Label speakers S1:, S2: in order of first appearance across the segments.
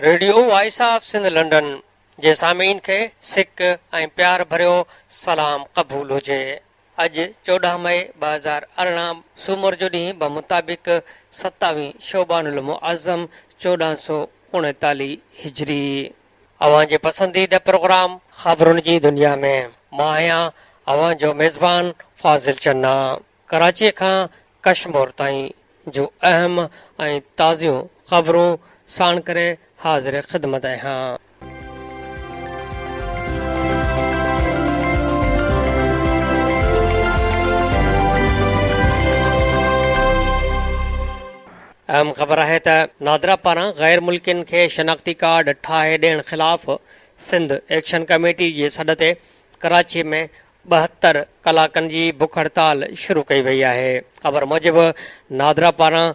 S1: Radio voice of Sindh London جي سامعين کي سڪ ۽ پيار ڀريو سلام قبول هجي. اڄ چوڏهن مئي ٻه هزار ارڙهن سومر جو ڏينهن بمطابق ستاوي شعبان المعظم چوڏهن سؤ اڻيتاليهه هجري. اوهان جي پسنديده پروگرام خبرن جي دنيا ۾ مان آهيان اوهان جو ميزبان فاضل چنا ڪراچي کان ڪشمور تائين جون اهم ۽ تازيون خبرون ساڻ ڪري حاضر خدمت آهيان. اهم خبر آهي ته نادرا پاران غير ملڪين کي شناختي ڪارڊ ٺاهي ڏيڻ خلاف سنڌ ايڪشن ڪميٽي جي سڏ تي ڪراچي ۾ ٻهتر ڪلاڪن جي بک هڙتال شروع ڪئي وئي آهي. خبر موجب نادرا پاران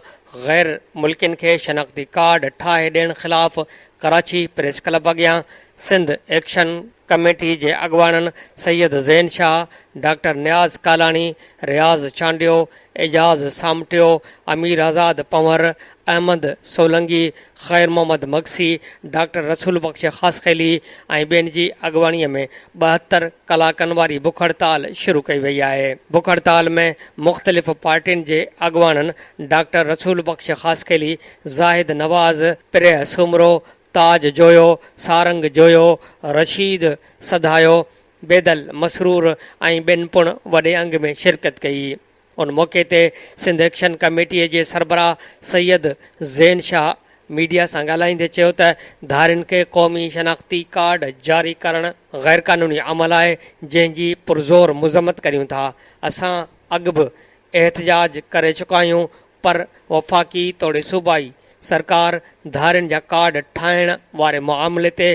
S1: غير ملڪين کي شناختي ڪارڊ ٺاهي ڏيڻ خلاف ڪراچي پريس ڪلب اڳيان سنڌ ايڪشن ڪميٽي جي اڳواڻن سيد زين شاهه، ڊاڪٽر نياز ڪالاڻي، رياض چانڊيو، اعجاز سامٽيو، اميرآزاد پنهور، احمد سولنگي، خير محمد مگسي، ڊاڪٽر رسول بخش خاصخيلي ۽ ٻين جي اڳواڻي ۾ ٻاهتر ڪلاڪن واري بک هڙتال شروع ڪئي وئي آهي. بک هڙتال ۾ مختلف پارٽين جي اڳواڻن ڊاڪٽر رسول بخش خاصخيلي، زاهد نواز، پريهه سومرو، تاج جويو، سارنگ جويو، رشيد سڌايو، بيدل، مسرور ۽ ٻين پڻ وڏي انگ ۾ شرڪت ڪئي. ان موقعي تي سنڌ ايڪشن ڪميٽيء جي سربراهه سيد زين شاهه ميڊيا سان ڳالهائيندي چيو ته ڌارين کي قومي شناختي ڪارڊ جاري ڪرڻ غيرقانوني عمل آهي جنهن جي پرزور مذمت ڪريون ٿا، اسان اڳ به احتجاج ڪري چڪا آهيون، پر وفاقي توڙي صوبائي سرڪار ڌارين جا ڪارڊ ٺاهڻ واري معاملي تي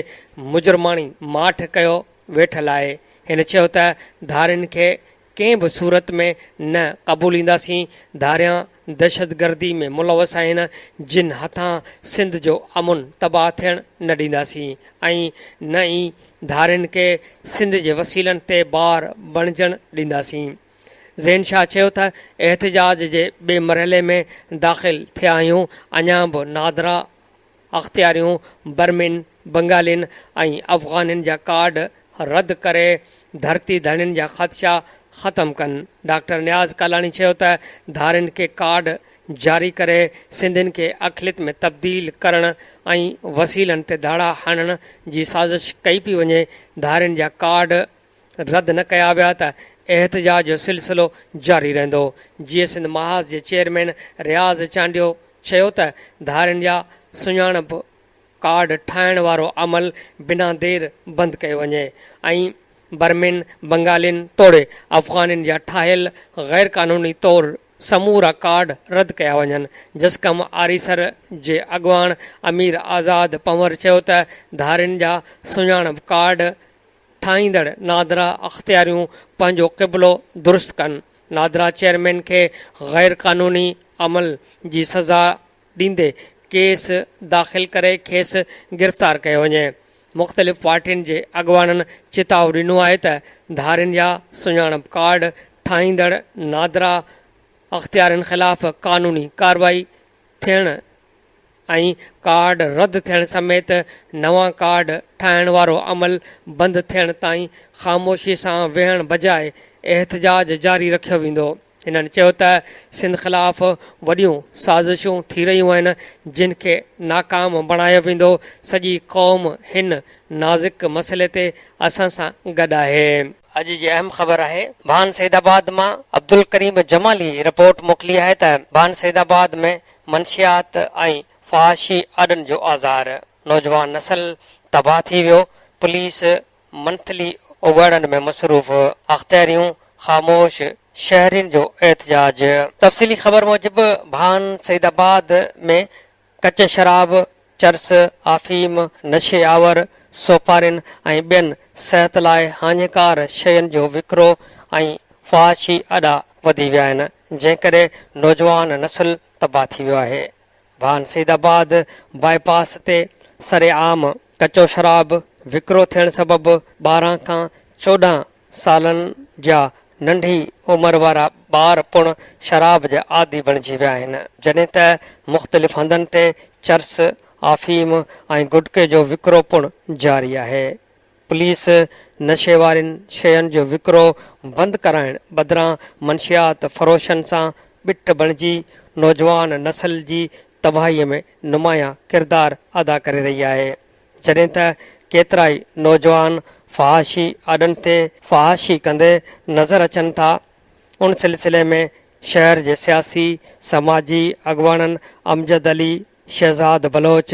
S1: مجرماڻي ماٺ ڪيو ويٺل آهي، هن چيو ته ڌارين کي ڪنهن به صورت ۾ نه قبولينداسين، ڌاريان دهشتگردي ۾ ملوث آهن، جن هٿان سنڌ جو امن تباهه ٿيڻ نه ڏينداسين ۽ نه ئي ڌارين کي سنڌ جي وسيلن تي بار بڻجڻ ڏينداسين. زين شاهه چيو ته احتجاج جي ٻئي مرحلي ۾ داخل ٿيا آهيون، اڃا به نادرا اختياريون برمين، بنگالين ۽ افغانين جا ڪارڊ رد ڪري ڌرتي ڌڻين جا خدشا ختم ڪن، ڊاڪٽر نياز ڪالاڻي چيو ته ڌارين کي ڪارڊ جاري ڪري سنڌين کي اقليت ۾ تبديل ڪرڻ ۽ وسيلن تي ڌاڙا هڻڻ جي سازش ڪئي پئي وڃي، ڌارين جا ڪارڊ. رد نه ڪيا ويا ته احتجاج جو سلسلو جاري رهندو، جيئي سنڌ محاذ جي چيئرمين رياض چانڊيو چيو ته ڌارين جا سڃاڻپ ڪارڊ ٺاهڻ وارو عمل بنا دير بند ڪيو وڃي ۽ برمين، بنگالين توڙي افغانين جا ٺاهيل غيرقانوني طور سمورا ڪارڊ رد ڪيا وڃن، جسقم آريسر جي اڳواڻ امير آزاد پنهور چيو ته ڌارين جا سڃاڻپ ڪارڊ. ٺاهيندڙ نادرا اختياريون پنهنجو قبلو درست ڪن، نادرا چيئرمين کي غير قانوني عمل جي سزا ڏيندي ڪيس داخل ڪري کيس گرفتار ڪيو وڃي، مختلف پارٽين جي اڳواڻن چتاء ڏنو آهي ته ڌارين جا سڃاڻپ ڪارڊ ٺاهيندڙ نادرا اختيارين خلاف قانوني ڪارروائي ٿيڻ ۽ ڪارڊ رد ٿيڻ سميت نوان ڪارڊ ٺاهڻ وارو عمل بند ٿيڻ تائين خاموشي سان ويهڻ بجاء احتجاج جاري رکيو ويندو. هنن چيو ته سنڌ خلاف وڏيون سازشون ٿي رهيون آهن جن کي ناڪام بڻايو ويندو، سڄي قوم هن نازڪ مسئلي تي اسان سان گڏ آهي. اڄ جي اهم خبر آهي ڀان سيدآباد مان عبدالڪريم جمالي رپورٽ موڪلي آهي ته ڀان سيدآباد ۾ منشيات ۽ فحاشي آڏن جو آزار، نوجوان نسل تباهه ٿي ويو، پوليس منٿلي اگهاڙن ۾ مصروف، اختياريون خاموش، شهرين جو احتجاج. تفصيلي خبر موجب ڀان سعيد آباد ۾ ڪچي شراب، چرس، آفيم، نشي آور سوپارين ۽ ٻين صحت لاء هاڃيڪار شين جو وڪرو ۽ فحاشي اڏا وڌي ويا آهن، جنهن ڪري نوجوان نسل تباهه ٿي ويو آهي. ڀان سيد آباد باء پاس تي سرعام ڪچو شراب وڪرو ٿيڻ سبب ٻارهن کان چوڏهن سالن جا ننڍي عمر وارا ٻار پڻ شراب جا عادي بڻجي ويا آهن، جڏهن ته مختلف هنڌن تي چرس، آفيم ۽ گٽڪي جو وڪرو پڻ جاري آهي. پوليس نشي وارين شين جو وڪرو بند ڪرائڻ بدران منشيات فروشن سان ٻٽ بڻجي نوجوان نسل جي تباهي ۾ نمايان ڪردار ادا ڪري رهي آهي. جڏهن ته ڪيترائي نوجوان فحاشي آڏن تي فحاشي ڪندي نظر اچن ٿا ان سلسلي ۾ شهر جي سياسي سماجي اڳواڻن امجد علي، شهزاد بلوچ،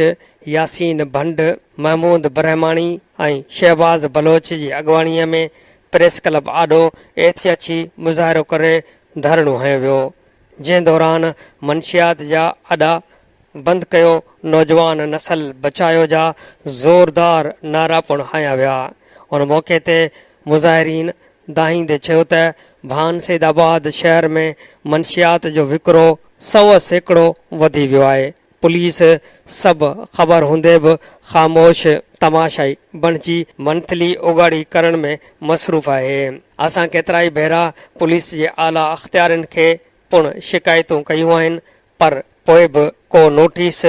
S1: ياسين ڀنڊ، محمود برهماڻي ۽ شهباز بلوچ جي اڳواڻي ۾ پريس ڪلب آڏو احتياجي مظاهرو ڪري ڌرڻو هنيو ويو جنهن دوران منشيات جا اڏا بند ڪيو، نوجوان نسل بچايو جا زوردار نعرا پڻ هنيا ويا. ان موقعي تي مظاهرين دانهيندي چيو ته ڀان سيد آباد شهر ۾ منشيات جو وڪرو سؤ سيڪڙو وڌي ويو آهي، پوليس سڀ خبر هوندي به خاموش تماشائي بڻجي منٿلي اوڳاڙي ڪرڻ ۾ مصروف آهي، اسان ڪيترائي ڀيرا پوليس جي اعليٰ اختيارين کي پڻ شڪايتون ڪيون آهن پر پوء به ڪو نوٽيس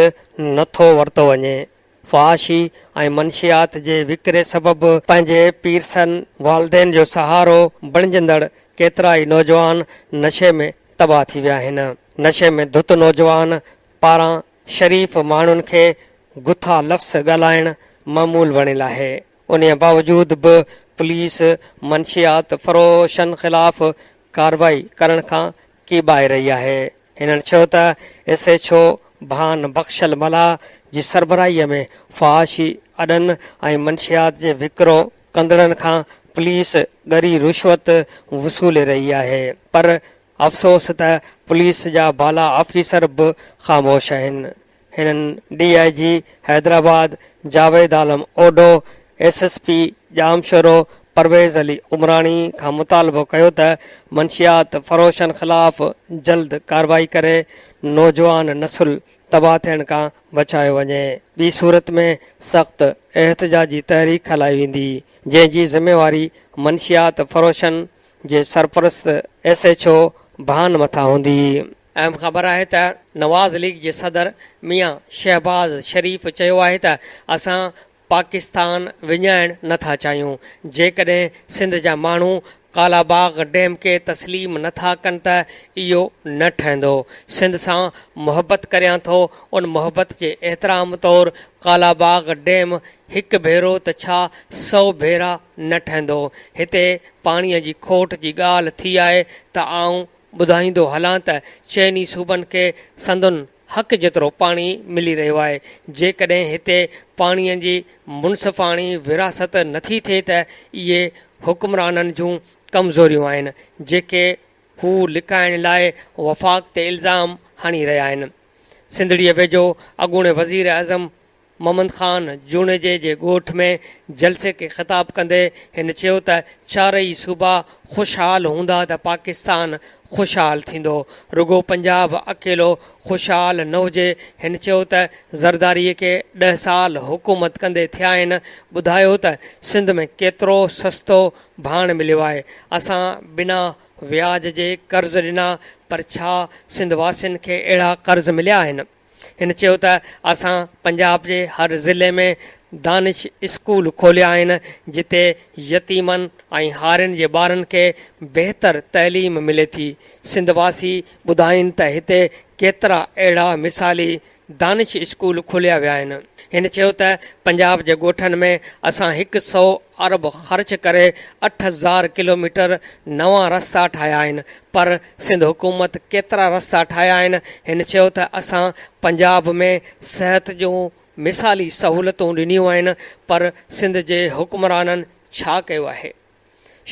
S1: نه ٿو ورتو وڃي. فحاشي ۽ منشيات جي وڪري سبب پنهنجي پيرسن والدين جو سهارو بڻجندڙ ڪيترائي نوجوان نشي ۾ تباهه ٿي ويا آهن. نشي ۾ ڌت نوجوان پاران شريف ماڻهن کي گٿا لفظ ڳالهائڻ معمول بڻيل آهي. انهي باوجود به پوليس منشيات فروشن خلاف ڪارروائي ڪرڻ کان ڪي باهه رهي آهي. هنن چيو ته S H O Bhan Bakhshal Mallah جي سربراهي ۾ فحاشي اڏن ۽ منشيات جي وڪرو ڪندڙن کان پوليس ڳري رشوت وصولي رهي آهي پر افسوس ته پوليس جا بالا آفيسر به خاموش آهن هنن D I G Hyderabad Javed Alam Odho, S S P Jamshoro Pervez Ali Umrani کان مطالبو ڪيو ته منشيات فروشن خلاف جلد ڪارروائي ڪري نوجوان نسل تباهه ٿيڻ کان بچايو وڃي ٻي صورت ۾ سخت احتجاجي تحريڪ هلائي ويندي جنهن جي ذميواري منشيات فروشن جي سرپرست ايس ايڇ او ڀان مٿان هوندي. اهم خبر آهي ته نواز ليگ جي صدر ميان شهباز شريف چيو آهي ته اسان پاڪستان وڃائڻ نه ٿا چاهيون، جيڪڏهن سنڌ جا ماڻهو ڪالاباغ ڊيم کي تسليم نه ٿا ڪن ته اهو نه ٺهندو، سنڌ سان محبت ڪريان ٿو، ان محبت جي احترام طور ڪالاباغ ڊيم هڪ ڀيرو ته ڇا سؤ ڀيرا نه ٺهندو، هتي پاڻي جي کوٽ جي ڳالهه ٿي آهي ته آئون ٻڌائيندو هلان ته چئني صوبن کي سندن حق جيترو پاڻي ملي رهيو آهي، جيڪڏهن هتي پاڻي جي منصفاڻي ورهاست نٿي ٿئي ته اهي حڪمرانن جون ڪمزوريون آهن، جيڪي هو لڪائڻ لاء وفاق تي الزام هڻي رهيا آهن. سنڌڙيء ويجهو اڳوڻي وزيراعظم محمد خان جوڻيجي جي ڳوٺ ۾ جلسي کي خطاب ڪندي هن چيو ته چارئي صوبا خوشحال هوندا ته پاڪستان خوشحال ٿيندو، رڳو پنجاب اڪيلو خوشحال نه هجي، هن چيو ته زرداري کي ڏهه سال حڪومت ڪندي ٿيا آهن، ٻڌايو ته سنڌ ۾ ڪيترو سستو ڀاڻ مليو آهي، اسان بنا وياج جي قرض ڏنا پر ڇا سنڌ واسين کي اهڙا قرض مليا آهن؟ هن چيو ته اسان پنجاب جي هر ضلعي ۾ دانش اسڪول کوليا آهن جتي يتيمن ۽ هارين جي ٻارن کي بهتر تعليم ملي ٿي، سنڌ واسي ٻڌائين ته هتي ڪيترا اهڙا مثالي دانش اسڪول کوليا ويا آهن، هن چيو ته پنجاب جي ڳوٺن ۾ اسان هڪ سئو ارب خرچ ڪري اٺ هزار ڪلوميٽر نوان رستا ٺاهيا آهن پر سنڌ حڪومت ڪيترا رستا ٺاهيا آهن؟ هن چيو ته اسان پنجاب ۾ صحت جون مثالي سهولتون ڏنيون آهن پر سنڌ جي حڪمرانن ڇا ڪيو آهي؟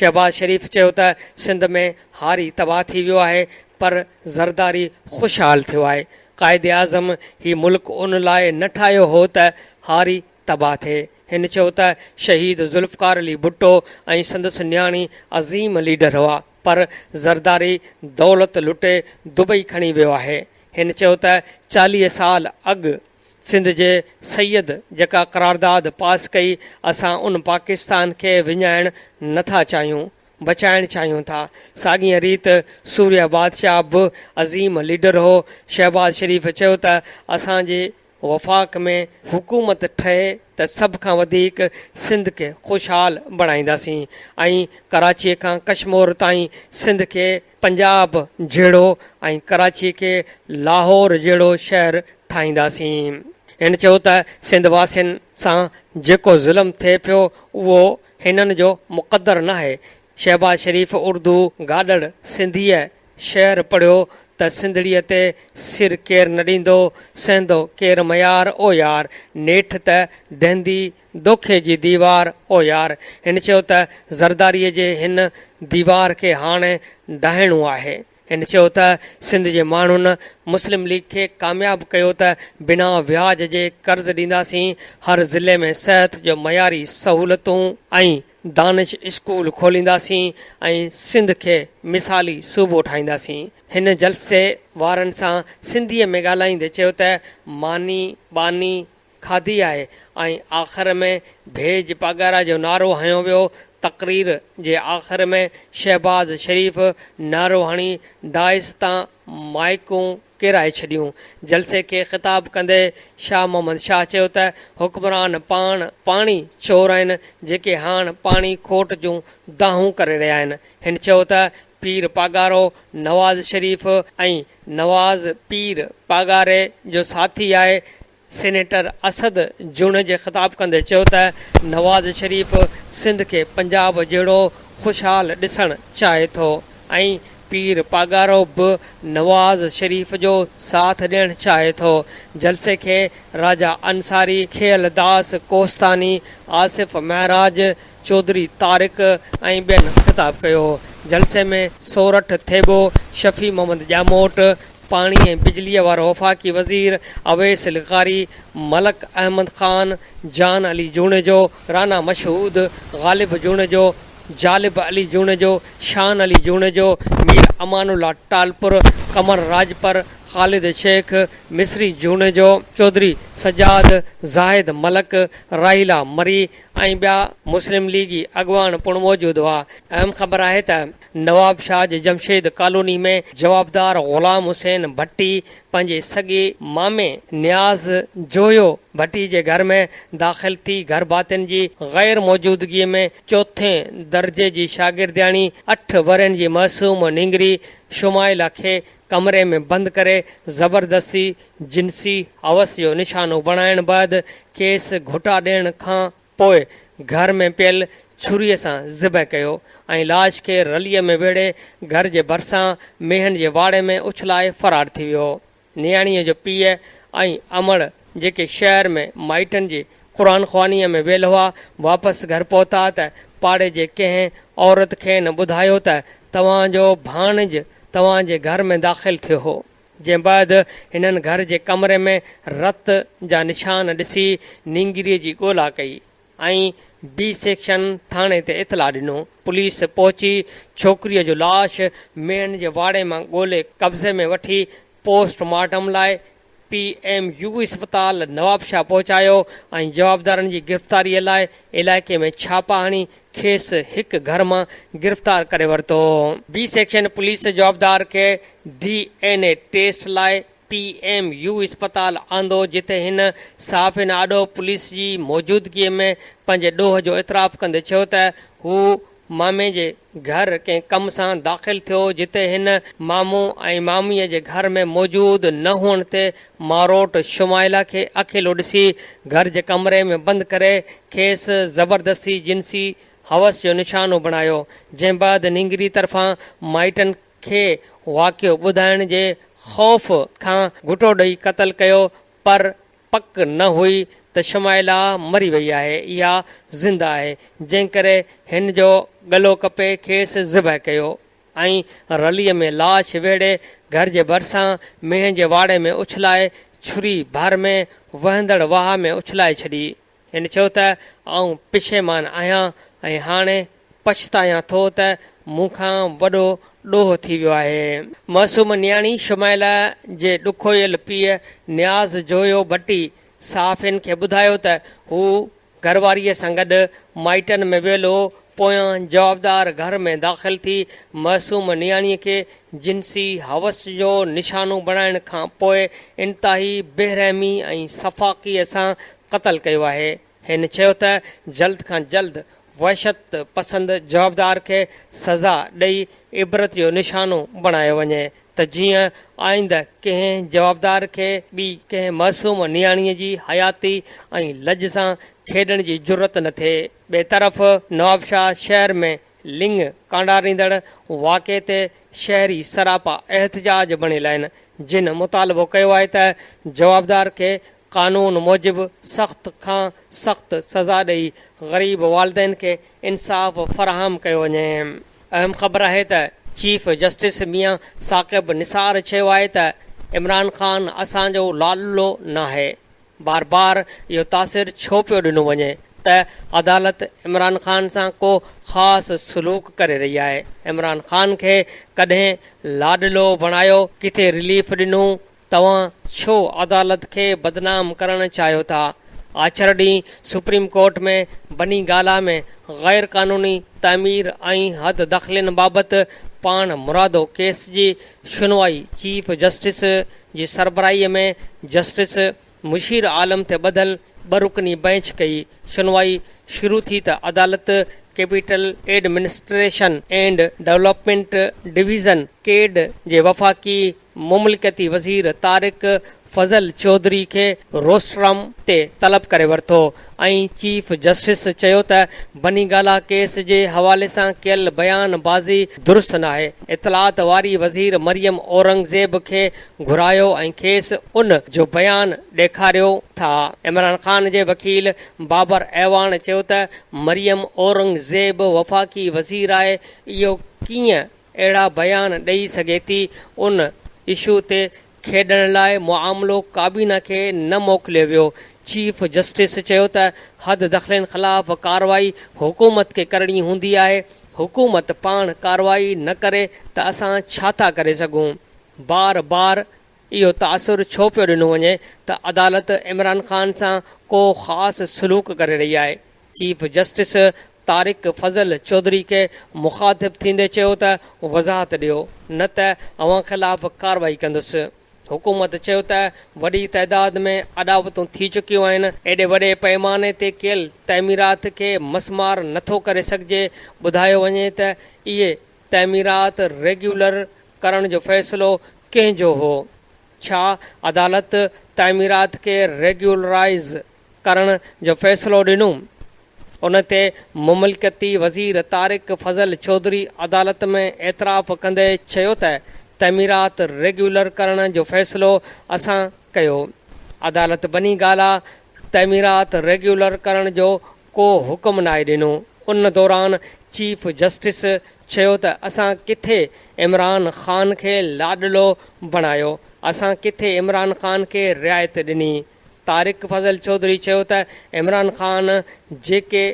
S1: شهباز شريف چيو ته سنڌ ۾ هاري تباهه ٿي ويو آهي پر زرداري خوشحال ٿيو آهي، قائداعظم هي ملڪ ان لاء نه ٺاهيو هو ته هاري تباهه ٿئي. هن چيو ته شهيد ذوالفقار علي ڀٽو ۽ سندس نياڻي عظيم ليڊر هئا پر زرداري دولت لٽي دبئي کڻي ويو آهي. هن چيو ته چاليهه سال اڳ سنڌ جي سيد جيڪا قرارداد پاس ڪئي اسان ان پاڪستان کي وڃائڻ نه ٿا چاهيون بچائڻ چاهيون ٿا. ساڳيء ريت سوريا بادشاهه به عظيم ليڊر هو. شهباز شريف چيو ته اسان جي. وفاق ۾ حڪومت ٺهي ته سڀ کان وڌيڪ سنڌ کي خوشحال بڻائينداسين ۽ ڪراچي کان ڪشمور تائين سنڌ کي پنجاب جهڙو ۽ ڪراچي کي لاهور جهڙو شهر ٺاهينداسين. هن چيو ته سنڌ واسين سان جيڪو ظلم ٿئي پيو اهو هنن جو مقدر ناهي، شهباز شريف اردو گاڏڙ سنڌيء شعر پڙهيو ته سنڌڙيء تي سر ڪير نه ڏيندو، سهندو ڪير ميار او يار، نيٺ ته ڊهندي دوکي جي ديوار او يار. هن چيو ته زرداريء جي هن ديوار کي هاڻ ڊاهڻو آهي. هن چيو ته سنڌ جي ماڻهن مسلم ليگ کي ڪامياب ڪيو ته بنا وياج جي قرض ڏينداسين، هر ضلعي ۾ صحت جو معياري سهولتون ۽ دانش اسڪول کولينداسين ۽ سنڌ کي مثالي صوبو ٺاهينداسين. هن جلسي وارن سان سنڌي ۾ ڳالهائيندي چيو ته ماني، ٻاني، کاڌي آهي ۽ آخر ۾ ڀيڄ پاڳارا جو نعرو هنيو ويو، تقرير جي آخر ۾ شهباز شريف نعرو هڻي ڊائس تان مائيڪون ڪيرائي ڇڏيون، جلسي کي خطاب ڪندي شاهه محمد شاهه چيو ته حڪمران پاڻ پاڻي چور آهن جيڪي هاڻ پاڻي کوٽ جون دانهون ڪري رهيا آهن، هن چيو ته پير پاڳارو نواز شريف ۽ نواز پير پاڳاري جو ساٿي آهي سينيٽر اسد جوڻيجي جي خطاب ڪندي چيو ته نواز شريف سنڌ کي پنجاب جهڙو خوشحال ڏسڻ چاهي ٿو ۽ پير پاڳارو به نواز شريف جو ساٿ ڏيڻ چاهي ٿو، جلسي کي راجا انصاري، کيئل داس ڪوهستاني، آصف معراج، چوڌري طارق ۽ ٻين خطاب ڪيو هو. جلسي ۾ سورٺ ٿيٻو، شفيع محمد ڄاموٽ، پاڻي ۽ بجلي وارو وفاقي وزير اويس لغاري، ملڪ احمد خان، جان علي جوڻيجو، رانا مشهود، غالب جوڻيجو، جالب علي جوڻيجو، شان علي جوڻيجو، مير امان الله ٽالپر، قمر راڄپر، خالد شيخ، مصري جوڻيجو، چوڌري سجاد، زاهد ملڪ، راحيلا مري، ۽ ٻيا مسلم ليگي اڳواڻ پڻ موجود هئا. اهم خبر آهي ته نواب شاهه جي جمشيد ڪالوني ۾ جوابدار غلام حسين ڀٽي پنهنجي سڳي مامي نياز جويو ڀٽي جي گهر ۾ داخل ٿي گهر ڀاتين جي غير موجودگي ۾ چوٿين درجي جي شاگردياڻي اٺ ورهين جي معصوم نينگري شمائلا کي ڪمري ۾ بند ڪري زبردستي جنسي حوس جو نشانو بڻائڻ بعد کيس گهوٽا ڏيڻ کان پوء گهر ۾ پيل ڇري سان ذبح ڪيو ۽ لاش کي رلي ۾ ويڙهي گهر جي ڀرسان مينهن جي واڙي ۾ اڇلائي فرار ٿي ويو نياڻيء جو پيء ۽ امڙ جيڪي شهر ۾ مائٽن جي قرآن خوانيء ۾ ويل هئا، واپس گهر پهتا ته پاڙي جي ڪنهن عورت کين ٻڌايو ته توهان جو ڀاڻج توهان جي گهر ۾ داخل ٿيو هو. جنهن بعد هنن گهر جي ڪمري ۾ رت جا نشان ڏسي نينگريء جي ڳولا ڪئي ۽ بي سيڪشن ٿاڻي تي اطلاع ڏنو. پوليس پهچي ڇوڪريء جو لاش مينهن جي واڙي مان ڳولي قبضي ۾ وٺي پوسٽ مارٽم لاء پي ايم يو اسپتال نوابشاهه پهچايو ۽ جوابدارن جي گرفتاري لاء علائقي ۾ ڇاپا هڻي کيس هڪ گهر مان گرفتار ڪري ورتو. بي سيڪشن پوليس جوابدار کي ڊي اين اي ٽيسٽ لاء پي ايم يو اسپتال آندو جتي هن صحافين آڏو پوليس جي موجودگي ۾ پنهنجي ڏوهه جو اعتراف ڪندي چيو ته هو مامي جي گهر ڪنهن ڪم سان داخل ٿيو، جتي هن مامو ۽ ماميء جي گهر ۾ موجود نه هئڻ تي ماروٽ شمائلا کي اڪيلو ڏسي گهر جي ڪمري ۾ بند ڪري کيس زبردستي جنسي حوس جو نشانو بڻايو، جنهن بعد نينگري طرفان مائٽن کي واقعو ٻڌائڻ جي خوف کان گهٽو ڏئي قتل ڪيو پر پڪ نه هئي ته شمائلا مري وئي آهي يا زنده آهي، جنهن ڪري هن جو ڳلو ڪپي کيس ذبح ڪيو ۽ رليء ۾ لاش ويڙهي گهر جي ڀرسان مينهن جي واڙي ۾ اڇلائي ڇري ڀر ۾ وهندڙ واهه ۾ اڇلائي ڇڏي. هن چيو ته آئون پشيمان آهيان ۽ هاڻي پڇتايان ٿو ته مون کان وڏو ڏوهه ٿي ويو آهي. معصوم نياڻي شمائلا جي ڏکويل پيء نياز جويو ڀٽي صحافين کي ٻڌايو ته هو گهرواريء سان گڏ مائٽن ۾ ويل هو پويان جوابدار گهر ۾ داخل ٿي معصوم نياڻيء کي جنسي حوس جو نشانو بڻائڻ کان پوء انتهائي بيرحمي ۽ سفاڪيء سان قتل ڪيو آهي. هن چيو ته جلد کان جلد وحشت پسند جوابدار کي سزا ڏئي عبرت جو نشانو بڻايو وڃي ته جيئن آئنده ڪنهن جوابدار کي ٻي ڪنهن معصوم نياڻيء جي حياتي ۽ لڄ سان کيڏڻ جي جرئت نه ٿئي. ٻئي طرف نوابشاهه شهر ۾ لڱ ڪانڊاريندڙ واقعي تي شهري سراپا احتجاج بڻيل آهن جن مطالبو ڪيو آهي ته جوابدار کي قانون موجب سخت کان سخت سزا ڏئي غريب والدين کي انصاف فراهم ڪيو وڃي. اهم خبر آهي ته چيف جسٽس ميان ثاقب نثار چيو آهي ته عمران خان اسان جو لالو ناهي بار بار اهو تاثر ڇو پيو ڏنو وڃي ته عدالت عمران خان سان ڪو خاص سلوڪ ڪري رهي آهي، عمران خان کي ڪڏهن لاڏلو بڻايو، ڪٿي رليف ڏنو، توهان ڇو عدالت کي بدنام ڪرڻ چاهيو ٿا، آچر ڏينهن سپريم ڪورٽ ۾ بني گالا ۾ غير قانوني تعمير ۽ حد دخلين بابت پاڻ مرادو ڪيس جي شنوائي چيف جسٽس جي سربراهي ۾ جسٽس مشير عالم تي ٻڌل ٻه رڪني بئنچ ڪئي شنوائي شروع ٿي ته عدالت capital administration and development division, CADD, جي وفاقي مملڪتي وزير طارق فضل چوڌري کي روسٽرم تي طلب ڪري ورتو ۽ چيف جسٽس چيو ته بنيگالا ڪيس جي حوالي سان ڪيل بيان بازي درست ناهي، اطلاعات واري وزير مريم اورنگزيب کي گهرايو ۽ کيس ان جو بيان ڏيکاريو ٿا. عمران خان جي وڪيل بابر اعواڻ چيو ته مريم اورنگزيب وفاقي وزير آهي اهو ڪيئن اهڙا بيان ڏئي سگهي ٿي، ان اشو تي کيڏڻ لاء معاملو ڪابينا کي نه موڪليو ويو، چيف جسٽس چيو ته حد دخلين خلاف ڪارروائي حڪومت کي ڪرڻي هوندي آهي، حڪومت پاڻ ڪارروائي نه ڪري ته اسان ڇا ٿا ڪري سگهون، بار بار اهو تاثر ڇو پيو ڏنو وڃي ته عدالت عمران خان سان ڪو خاص سلوڪ ڪري رهي آهي، چيف جسٽس طارق فضل چوڌري کي مخاطب ٿيندي چيو ته وضاحت ڏيو نه ته اوهان خلاف ڪارروائي ڪندس، حڪومت چيو ته وڏي تعداد ۾ اڏاوتون ٿي چڪيون آهن، ايڏي وڏي پئماني تي ڪيل تعميرات کي مسمار نٿو ڪري سگهجي، ٻڌايو وڃي ته اهي تعميرات ريگيولر ڪرڻ جو فيصلو ڪنهن جو هو؟ ڇا عدالت تعميرات کي ريگيولرائيز ڪرڻ جو فيصلو ڏنو، ان تي مملڪتي وزير طارق فضل چوڌري عدالت ۾ اعتراف ڪندي چيو ته تعميرات ريگيولر ڪرڻ جو فيصلو اسان ڪيو، عدالت بني گالا تعميرات ريگيولر ڪرڻ جو ڪو حڪم ناهي ڏنو، ان دوران چيف جسٽس چيو ته اسان ڪٿي عمران خان کي لاڏلو بڻايو، اسان ڪٿي عمران خان کي رعايت ڏني. طارق فضل چوڌري چيو ته عمران خان جيڪي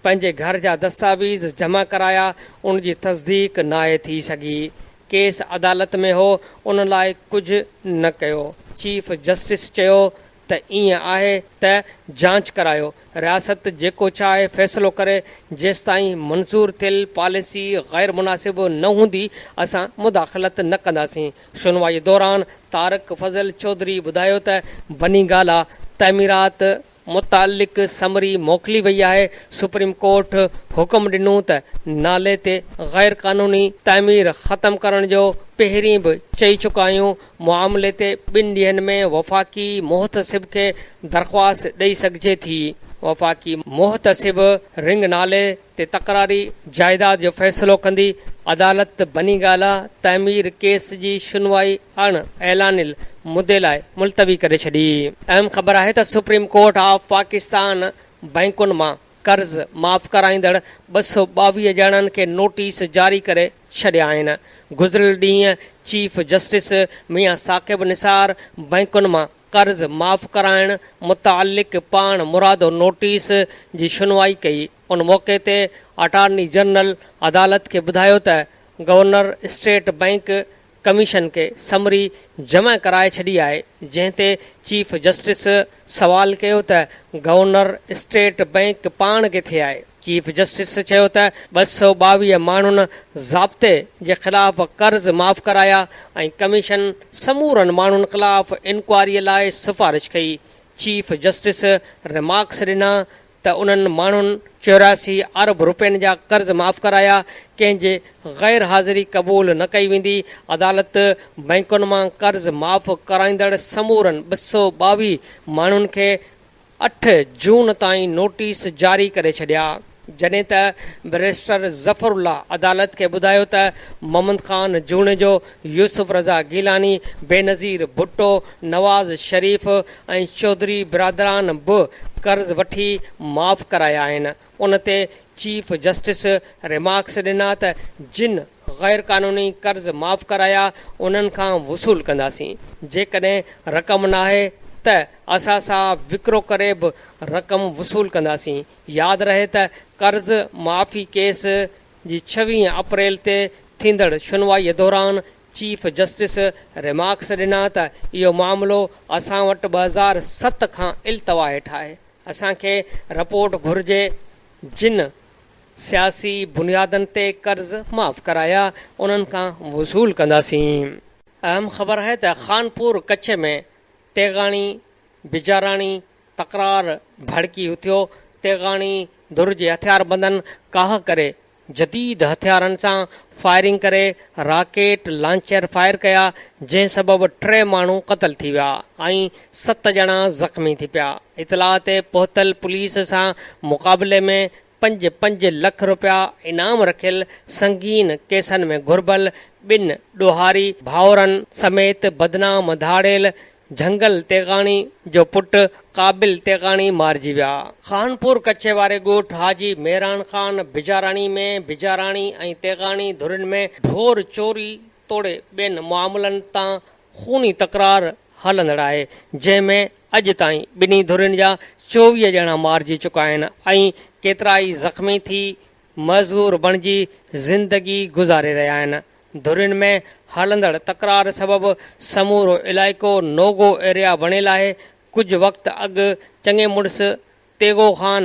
S1: پنهنجي گهر جا دستاويز جمع ڪرايا ان جي تصديق ناهي ٿي سگهي، ڪيس عدالت ۾ هو ان لاء ڪجهه نه ڪيو، چيف جسٽس چيو ته ائين آهي ته جاچ ڪرايو، رياست جيڪو چاهي فيصلو ڪري، جيستائين منظور ٿيل پاليسي غير مناسب نه هوندي اسان مداخلت نه ڪنداسين. شنوائي دوران طارق فضل چوڌري ٻڌايو ته بني گالا تعميرات متعلق سمري موڪلي وئي آهي، سپريم ڪورٽ حڪم ڏنو ته نالي تي غير قانوني تعمير ختم ڪرڻ جو پهرين به چئي چڪا آهيون، معاملي تي ٻن ڏينهن ۾ وفاقي محتسب کي درخواست ڏئي سگهجي ٿي، وفاقي محتسب رنگ نالي تي تڪراري جائيداد جو فيصلو ڪندي عدالت بني گالا تعمير ڪيس جي شنوائي اڻ اعلانيل مدي لاء ملتوي ڪري ڇڏي. اهم خبر آهي ته سپريم ڪورٽ آف پاڪستان بئنڪن مان قرض معاف ڪرائيندڙ ٻه سؤ ٻاويهه ڄڻن کي نوٽيس جاري ڪري ڇڏيا آهن. گذريل ڏينهن چيف جسٽس ميان ثاقب نثار بئنڪن مان قرض معاف ڪرائڻ متعلق پاڻ مرادو نوٽيس جي شنوائي ڪئي، ان موقعي تي اٽارني جنرل عدالت کي ٻڌايو ته گورنر اسٽيٽ بئنڪ ڪميشن کي سمري جمع ڪرائي ڇڏي آهي، جنهن تي چيف جسٽس سوال ڪيو ته گورنر اسٽيٽ بئنڪ پاڻ ڪٿي آهي؟ چيف جسٽس چيو ته ٻه سؤ ٻاويهه ماڻهن ضابطي جي خلاف قرض معاف ڪرايا ۽ ڪميشن سمورن ماڻهن خلاف انڪوائري لاء سفارش ڪئي، چيف جسٽس ريمارڪس ڏنا ته انهن ماڻهن چوراسي ارب رپين جا قرض معاف ڪرايا، ڪنهن جي غير حاضري قبول نه ڪئي ويندي، عدالت بئنڪن مان قرض معاف ڪرائيندڙ سمورن ٻه سؤ ٻاويهه ماڻهن کي. اٺ جون تائين نوٽيس جاري ڪري ڇڏيا جڏهن ته بئريسٽر ظفر الله عدالت کي ٻڌايو ته محمد خان جوڻيجو، يوسف رضا گيلاني، بينظير ڀٽو، نواز شريف ۽ چوڌري برادران به قرض وٺي معاف ڪرايا آهن، ان تي چيف جسٽس ريمارڪس ڏنا ته جن غير قانوني قرض معاف ڪرايا انهن کان وصول ڪنداسين، جيڪڏهن رقم ناهي ته اسان سان وڪرو ڪري به رقم وصول ڪنداسين، ياد رهي ته قرض معافي ڪيس جي ڇويهين اپريل تي ٿيندڙ شنوائيء دوران چيف جسٽس ريمارڪس ڏنا ته اهو معاملو اسان وٽ ٻه هزار ست کان التوا هيٺ آهي. اسان کي رپورٽ گهرجي جن سياسي بنيادن تي قرض معاف ڪرايا انهن کان وصول ڪنداسين. اهم خبر آهي ته خانپور ڪڇ ۾ تيغاڻي بجاراڻي تڪرار ڀڙڪي اٿيو، تيغاڻي ڌر جي هٿياربندن ڪاهه ڪري جديد هٿيارن سان فائرنگ ڪري راڪيٽ لانچر فائر ڪيا جنهن سبب ٽي ماڻهو قتل ٿي ويا ۽ ست ڄڻا زخمي ٿي پيا اطلاع تي پهتل پوليس سان مقابلي ۾ پنج پنج لک رپيا انعام رکيل سنگين ڪيسن ۾ گهربل ٻن ڏوهاري ڀائورن سميت بدنام ڌاڙيل جهنگل تيغاڻي جو پٽ قابل تيغاڻي مارجي ويا. خانپور ڪڇي واري ڳوٺ حاجي ميران خان بجاراڻي ۾ بجاراڻي ۽ تيغاڻي ڌرين ۾ ڍور چوري توڙي ٻين معاملن تان خوني تڪرار هلندڙ آهي، جنهن ۾ اڄ تائين ٻنهي ڌرين جا چوويهه ڄڻا مارجي چڪا آهن ۽ ڪيترائي زخمي ٿي مزور بڻجي زندگي گذاري رهيا آهن. ڌرين ۾ هلندڙ تڪرار سبب سمورو علائقو نو گو ايريا بڻيل آهي. ڪجهه وقت اڳ چڱي مڙس تيغو خان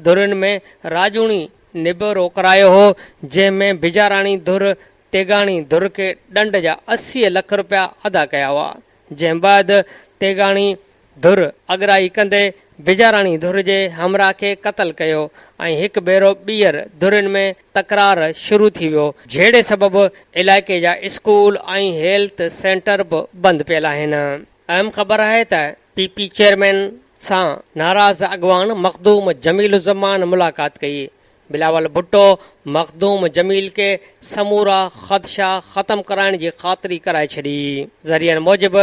S1: ڌرين ۾ راڄوڻي نبيرو ڪرايو هو، جنهن ۾ بجاراڻي ڌر تيغاڻي ڌر کي ڏنڊ جا اسي لک رپيا ادا ڪيا هئا. جنهن بعد تيغاڻي ڌر اڳرائي ڪندي بجاراڻي ڌر جي همراهه کي قتل ڪيو ۽ هڪ ڀيرو ٻيهر ڌرين ۾ تڪرار شروع ٿي ويو، جهيڙي سبب علائقي جا اسڪول ۽ هيلٿ سينٽر به بند پيل آهن، اهم خبر آهي ته پي پي چيئرمين سان ناراض اڳواڻ مخدوم جميل الزمان ملاقات ڪئي، بلاول ڀٽو مخدوم جميل کي سمورا خدشا ختم ڪرائڻ جي خاطري ڪرائي ڇڏي. ذريعن موجب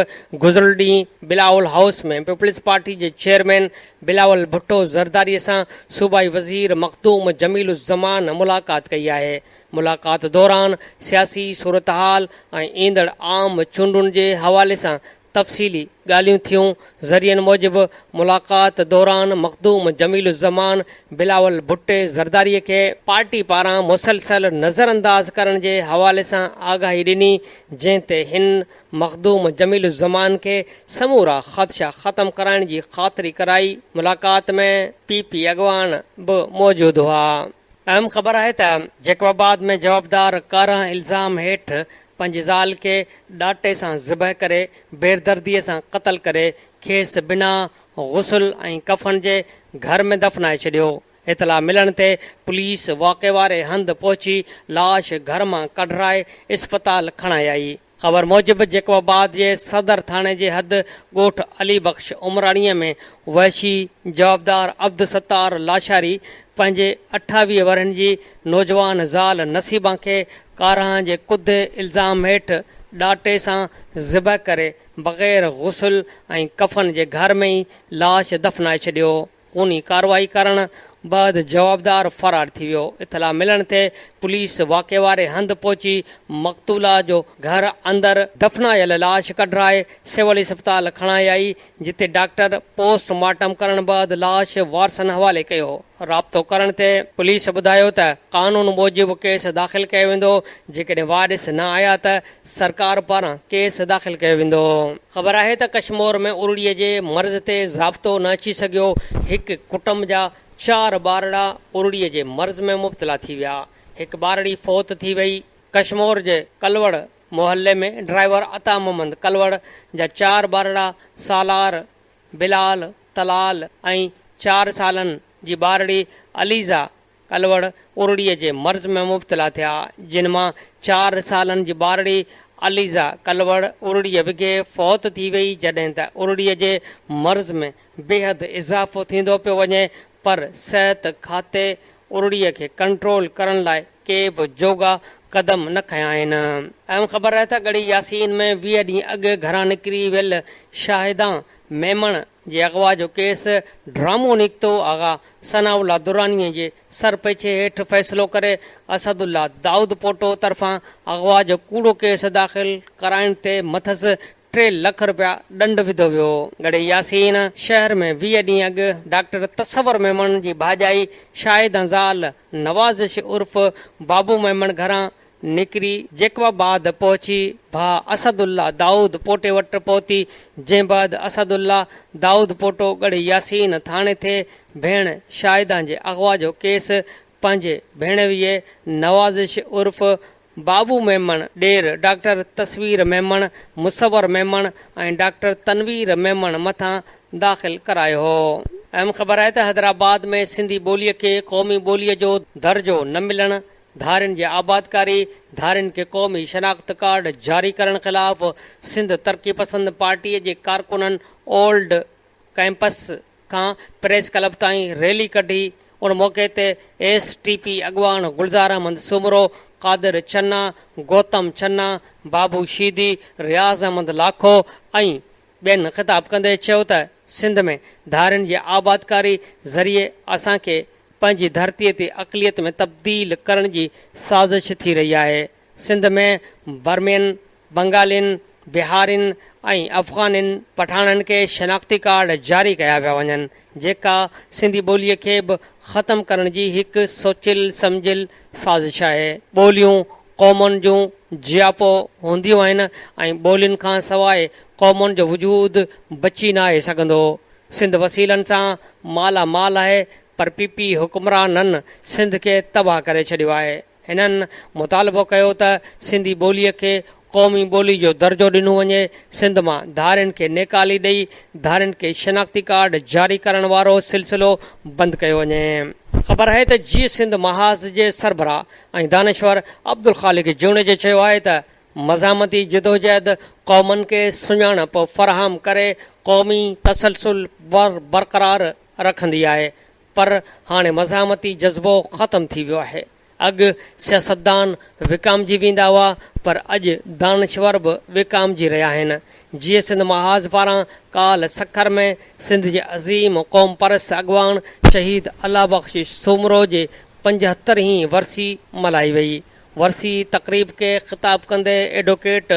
S1: گذريل ڏينهن بلاول هائوس ۾ پيپلزپارٽي جي چيئرمين بلاول ڀٽو زرداري سان صوبائي وزير مخدوم جميل الزمان ملاقات ڪئي آهي. ملاقات دوران سياسي صورتحال ۽ ايندڙ عام چونڊن جي حوالي سان تفصيلي ڳالهيون ٿيون، ذريعن موجب ملاقات دوران مخدوم جميل الزمان بلاول ڀٽي زرداري کي پارٽي پاران مسلسل نظرانداز ڪرڻ جي حوالي سان آگاهي ڏني جنهن تي هن مخدوم جميل الزمان کي سمورا خدشا ختم ڪرائڻ جي خاطري ڪرائي، ملاقات ۾ پي پي اڳواڻ به موجود هئا. اهم خبر آهي ته جيڪب آباد ۾ جوابدار ڪارنهن الزام هيٺ پنهنجي زال کي ڏاٽي سان ذبح ڪري بيردرديء سان قتل ڪري کيس بنا غسل ۽ ڪفن جي گهر ۾ دفنائي ڇڏيو. اطلاع ملڻ تي پوليس واقعي واري هنڌ پهچي لاش گهر مان ڪڍرائي اسپتال کڻائي آئي. خبر موجب جيڪب آباد جي صدر ٿاڻي جي حد ڳوٺ علي بخش عمراڻيء ۾ وحشي جوابدار عبدالستار لاشاري پنهنجي اٺاويهه ورهين جي نوجوان زال نصيبان کي ڪارهن جي ڪڌي الزام هيٺ ڏاٽي سان ذبح ڪري بغير غسل ۽ ڪفن جي گهر ۾ ئي لاش دفنائي ڇڏيو، خوني ڪارروائي ڪرڻ بعد جوابدار فرار ٿي ويو، اطلاع ملڻ تي پوليس واقعي واري هنڌ پهچي مقتولا جو گهر اندر دفنايل لاش ڪڍرائي سول اسپتال کڻائي آئي، جتي ڊاڪٽر پوسٽ مارٽم ڪرڻ بعد لاش وارثن حوالي ڪيو. رابطو ڪرڻ تي پوليس ٻڌايو ته قانون موجب ڪيس داخل ڪيو ويندو، جيڪڏهن وارث نه آيا ته سرڪار پاران ڪيس داخل ڪيو ويندو. خبر آهي ته ڪشمور ۾ ارڙي جي مرض تي ضابطو نه اچي سگهيو، هڪ ڪٽنب جا چار ٻارڙا ارڙي جي مرض ۾ مبتلا ٿي ويا، هڪ ٻارڙي فوت ٿي وئي، ڪشمور جي ڪلوڙ محلي ۾ ڊرائيور عطا محمد ڪلوڙ جا چار ٻارڙا سالار، بلال، طلال ۽ چار سالن جي ٻارڙي عليزا ڪلوڙ ارڙي جي مرض ۾ مبتلا ٿيا جن مان چار سالن جي ٻارڙي عليزا ڪلوڙ ارڙي وگهي فوت ٿي وئي جڏهن ته ارڙي جي مرض ۾ بيحد اضافو ٿيندو پيو وڃي پر صحت کاتي ارڙيء کي ڪنٽرول ڪرڻ لاء ڪي به جوڳا قدم نه کنيا آهن. اهم خبر آهي ته ڳڙهي ياسين ۾ ويهه ڏينهن اڳ گهران نڪري ويل شاهده ميمڻ جي اغوا جو ڪيس ڊرامو نڪتو، آغا ثناء الله درانيء جي سرپيڇي هيٺ فيصلو ڪري اسد الله دائودپوٽو طرفان اغوا جو ڪوڙو ڪيس داخل ڪرائڻ تي مٿس ٽي لک رپيا ڏنڊ وڌو ويو ڳڙهي ياسين شهر ۾ ويهه ڏينهن اڳ ڊاڪٽر تصور ميمڻ جي ڀاڄائي شاهده زال نوازش عرف بابو ميمڻ گهران نڪري جيڪب آباد پهچي ڀاء اسد الله دائود پوٽي وٽ پهتي جنهن بعد اسد الله دائود پوٽو ڳڙهي ياسين ٿاڻي ٿي ڀيڻ شاهده جي اغوا جو ڪيس پنهنجي ڀيڻويي نوازش عرف بابو ميمڻ، ڏير، ڊاڪٽر تصوير ميمڻ، مصور ميمڻ ۽ ڊاڪٽر تنوير ميمڻ مٿان داخل ڪرايو هو. اهم خبر آهي ته حيدرآباد ۾ سنڌي ٻوليء کي قومي ٻوليء جو درجو نه ملڻ، ڌارين جي آبادڪاري، ڌارين کي قومي شناخت ڪارڊ جاري ڪرڻ خلاف سنڌ ترقي پسند پارٽيء جي ڪارڪنن اولڊ ڪئمپس کان پريس ڪلب تائين ريلي ڪڍي، ان موقعي تي ايس ٽي پي اڳواڻ گلزار احمد سومرو، قادر چنا، گوتم چنا، بابو شيدي، رياض احمد لاکو ۽ ٻين خطاب ڪندي چيو ته سنڌ ۾ ڌارين جي آبادڪاري ذريعي اسان کي پنهنجي ڌرتي تي اقليت ۾ تبديل ڪرڻ جي سازش ٿي رهي آهي، سنڌ ۾ برمين، بنگالين، بهارين ۽ افغانين پٺاڻن کي شناختي ڪارڊ جاري ڪيا پيا وڃن، جيڪا سنڌي ٻوليء کي به ختم ڪرڻ جي هڪ سوچيل سمجهيل سازش آهي. ٻوليون قومن جون جياپو هونديون آهن ۽ ٻولين کان سواء قومن جو وجود بچي ناهي سگهندو. سنڌ وسيلن سان مالا مال آهي پر پي پي حڪمرانن سنڌ کي تباهه ڪري ڇڏيو آهي. هنن مطالبو ڪيو ته سنڌي ٻوليء کي قومي ٻولي جو درجو ڏنو وڃي، سنڌ مان ڌارين کي نيڪالي ڏئي ڌارين کي شناختي ڪارڊ جاري ڪرڻ وارو سلسلو بند ڪيو وڃي. خبر آهي ته جيئي سنڌ محاذ جي سربراهه ۽ دانشور عبدالخالق جوڻيجي چيو آهي ته مزاحمتي جدوجهد قومن کي سڃاڻپ فراهم ڪري قومي تسلسل برقرار رکندي آهي، پر هاڻي مزاحمتي جذبو ختم ٿي ويو آهي. اڳ سياستدان وڪامجي ويندا هئا پر اڄ دانشور به وڪامجي رهيا آهن. جيئي سنڌ محاذ پاران ڪالهه سکر ۾ سنڌ جي عظيم قومپرست اڳواڻ شهيد الله بخش سومرو جي پنجهتر هين ورسي ملهائي وئي. ورسي تقريب کي خطاب ڪندي ايڊووڪيٽ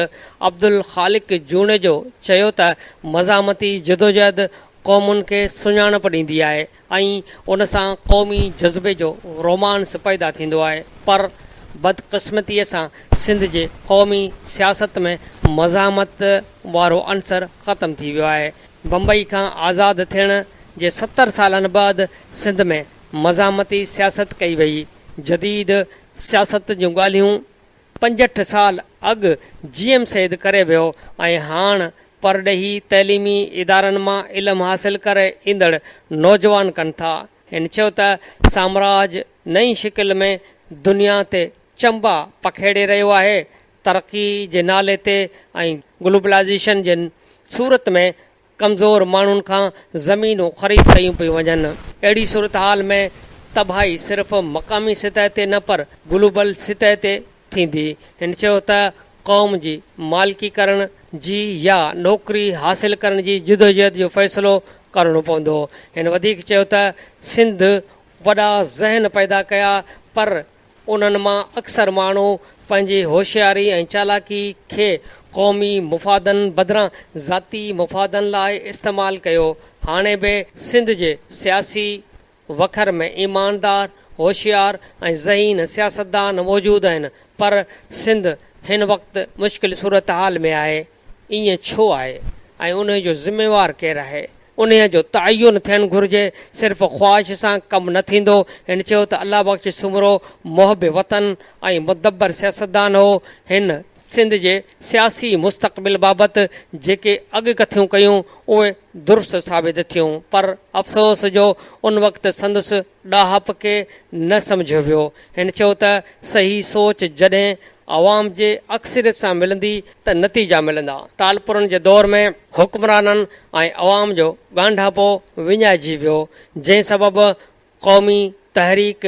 S1: عبدالخالق جوڻيجو چيو ته مزاحمتي جدوجهد قومن کي سڃاڻپ ڏيندي آهي ۽ ان سان قومي جذبي جو رومانس پيدا ٿيندو آهي پر بدقسمتي سان سنڌ جي قومي سياست ۾ مزاحمت وارو عنصر ختم ٿي ويو آهي بمبئي کان آزاد ٿيڻ جي ستر سالن بعد سنڌ ۾ مزاحمتي سياست ڪئي وئي جديد سياست جون ڳالهيون پنجهٺ سال اڳ جي ايم سيد ڪري ويو ۽ هاڻ پرڏيهي تعليمي ادارن مان علم حاصل ڪري ايندڙ نوجوان ڪن ٿا. هن چيو ته سامراج نئين شڪل ۾ دنيا تي چنبا پکيڙي رهيو آهي، ترقي جي نالي تي ۽ گلوبلائيزيشن جي صورت ۾ ڪمزور ماڻهن کان زمينون خريد ڪيون پيون وڃن. اهڙي صورتحال ۾ تباهي صرف مقامي سطح تي نه پر گلوبل سطح تي ٿيندي. هن چيو ته قوم جي مالڪي ڪرڻ جي يا نوڪري حاصل ڪرڻ جي جدوجهد جو فيصلو ڪرڻو پوندو. هن وڌيڪ چيو ته سنڌ وڏا ذهن پيدا ڪيا پر انهن مان اڪثر ماڻهو پنهنجي هوشياري ۽ چالاڪي کي قومي مفادن بدران ذاتي مفادن لاء استعمال ڪيو. هاڻي به سنڌ جي سياسي وکر ۾ ايماندار، هوشيار ۽ ذهين سياستدان موجود آهن پر سنڌ هن وقت مشڪل صورتحال ۾ آهي. ائين ڇو آهي ۽ انهي جو ذميوار ڪير آهي انهي جو تعين ٿيڻ گهرجي صرف خواهش سان ڪم نه ٿيندو هن چيو ته الله بخش سومرو محب وطن ۽ مدبر سياستدان هو هن سنڌ جي سياسي مستقبل بابت جيڪي اڳ ڪٿيون ڪيون اهي درست ثابت ٿيون پر افسوس جو ان وقت سندس ڏاهپ کي نه سمجهيو ويو. هن چيو ته صحيح سوچ جڏهن عوام جي اڪثريت سان ملندي ته نتيجا ملندا. ٽالپرن جي دور ۾ حڪمرانن ۽ عوام جو ڳانڍاپو وڃائجي ويو، جنهن سبب قومي تحريڪ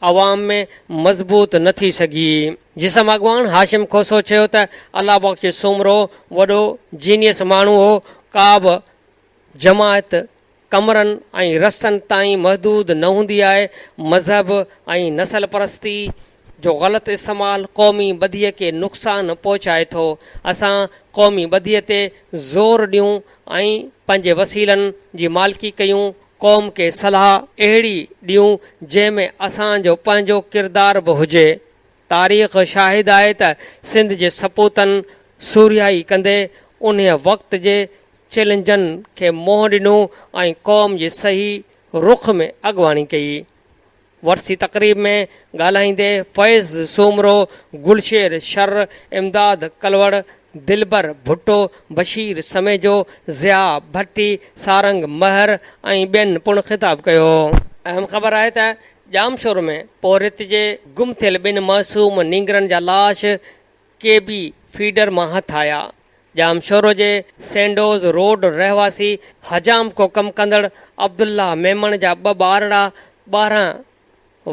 S1: عوام ۾ مضبوط نه ٿي سگهي. جسم اڳواڻ هاشم کوسو چيو ته الله بخش سومرو وڏو جينيس ماڻهو هو، ڪا به جماعت ڪمرن ۽ رستن تائين محدود نه هوندي آهي، مذهب ۽ نسل پرستي جو غلط استعمال قومي ٻڌيء کي نقصان پهچائي ٿو، اسان قومي ٻڌيء تي زور ڏيون ۽ پنهنجي وسيلن جي مالڪي ڪيون، قوم کي صلاح اهڙي ڏيون جنهن ۾ اسان جو پنهنجو ڪردار به هجي. تاريخ شاهد آهي ته سنڌ جي سپوتن سورهيائي ڪندي انهيء وقت جي چئلينجن کي منهن ڏنو ۽ قوم جي صحيح رخ ۾ اڳواڻي ڪئي. ورسي تقريب ۾ ڳالهائيندي فيض سومرو، گلشير شر، امداد ڪلوڙ، دلبر ڀٽو، بشير سميجو، ضياء ڀٽي، سارنگ مهر ۽ ٻين پڻ خطاب ڪيو. اهم خبر آهي ته ڄامشور ۾ پورهيت جي گم ٿيل ٻن معصوم نينگرن جا لاش ڪي بي فيڊر مان هٿ آيا. ڄامشور جي سينڊوز روڊ رهواسي حجام ڪو ڪم ڪندڙ عبدالله ميمڻ جا ٻه ٻارڙا ٻارهن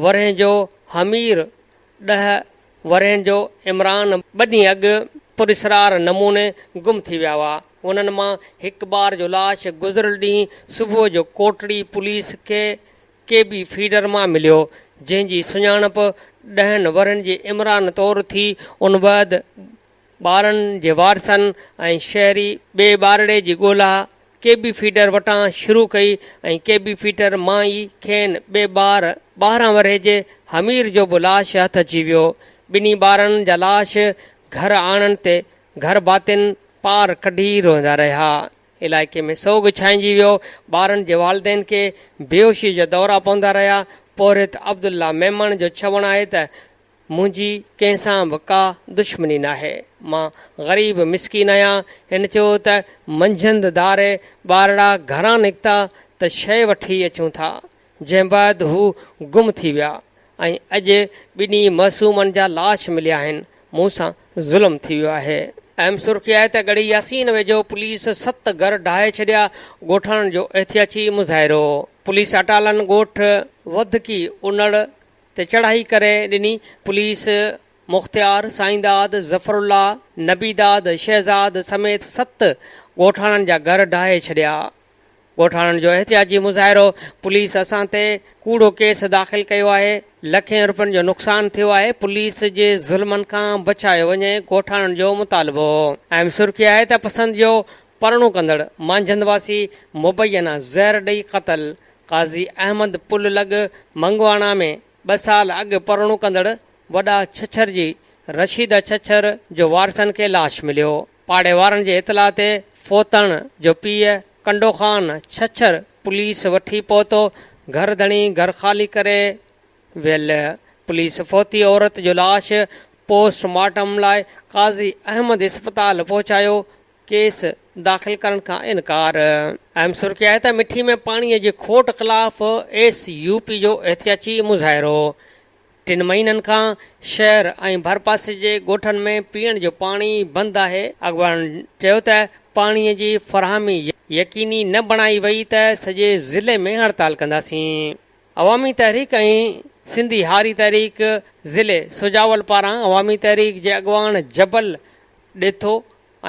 S1: ورهين جو حمير ڏهه ورهين جو عمران ٻه ڏينهن اڳ پراسرار نموني گم ٿي ويا هئا. انهن مان هڪ ٻار جو لاش گذريل ڏينهن صبح جو ڪوٽڙي پوليس کي کي به فيڊر مان مليو، جنهن جي سڃاڻپ ڏهن ورهين جي عمران طور ٿي، ان بعد ٻارن جي وارثن ۽ شهري ٻئي ٻارڙي جي ڳولا ڪي بي فيڊر وٽان شروع ڪئي ۽ ڪي بي فيڊر مان ئي کين ٻئي ٻار ٻارهن ورهيه جي حمير جو به لاش هٿ اچي ويو، ٻنهي ٻارن جا لاش گهر آڻڻ تي گهر ڀاتين پار ڪڍي روئندا رهيا. علائقي ۾ سوڳ ڇائنجي ويو، ٻارن جي والدين کي بيهوشي جا دورا پوندا رهيا، پورهيت عبدالله ميمڻ جو چوڻ آهي ته منهنجي ڪنهن سان به ڪا دشمني ناهي، مان غريب مسڪين آهيان، هن چيو ته منجهند ڌاري ٻارڙا گهران نڪتا ته شيء وٺي اچون ٿا، جنهن بعد هو گم ٿي ويا ۽ اڄ ٻنهي معصومن جا لاش مليا آهن، مون سان ظلم ٿي ويو آهي. اهم سرخي آهي ته ڳڙهي ياسين ويجهو پوليس ست گهر ڊاهي ڇڏيا، ڳوٺاڻن جو احتياجي مظاهرو، پوليس اٽالن ڳوٺ وڌڪي انڙ تي چڙهائي ڪري ڏني، پوليس مختيار، سائينداد، ظفرالله، نبيداد، شهزاد سميت ست ڳوٺاڻن جا گهر ڊاهي ڇڏيا. ڳوٺاڻن جو احتجاجي مظاهرو، پوليس اسان تي ڪوڙو ڪيس داخل ڪيو آهي، لکين روپين جو نقصان ٿيو آهي، پوليس جي ظلمن کان بچايو وڃي، ڳوٺاڻن جو مطالبو. اهم سرخي آهي ته پسند جو پرڻو ڪندڙ مانجهند واسي مبينا زهر ڏئي قتل، قاضي احمد پل لڳ منگواڻا ۾ ٻه سال اڳ پرڻو ڪندڙ وڏا ڇڇر جي رشيده ڇڇر جو وارثن کي لاش مليو، پاڙي وارن جي اطلاع تي فوتڻ جو پيء ڪنڊو خان ڇڇر پوليس وٺي پهتو، گهر ڌڻي گهر خالي ڪري ويل، پوليس فوتي عورت جو لاش پوسٽ مارٽم لاء قاضي احمد اسپتال پهچايو، ڪيس داخل ڪرڻ کان انڪار. اهم سرخي آهي ته مٺي ۾ پاڻي جي کوٽ خلاف ايس يو پي جو احتجاجي مظاهرو ٽن مهينن کان شهر ۽ ڀرپاسي جي ڳوٺن ۾ پيئڻ جو پاڻي بند آهي، اڳواڻن چيو ته پاڻي جي فراهمي يقيني نه بڻائي وئي ته سڄي ضلعي ۾ هڙتال ڪنداسين، عوامي تحريڪ ۽ سنڌي هاري تحريڪ ضلعي سجاول پاران عوامي تحريڪ جي اڳواڻ جبل ڏيٿو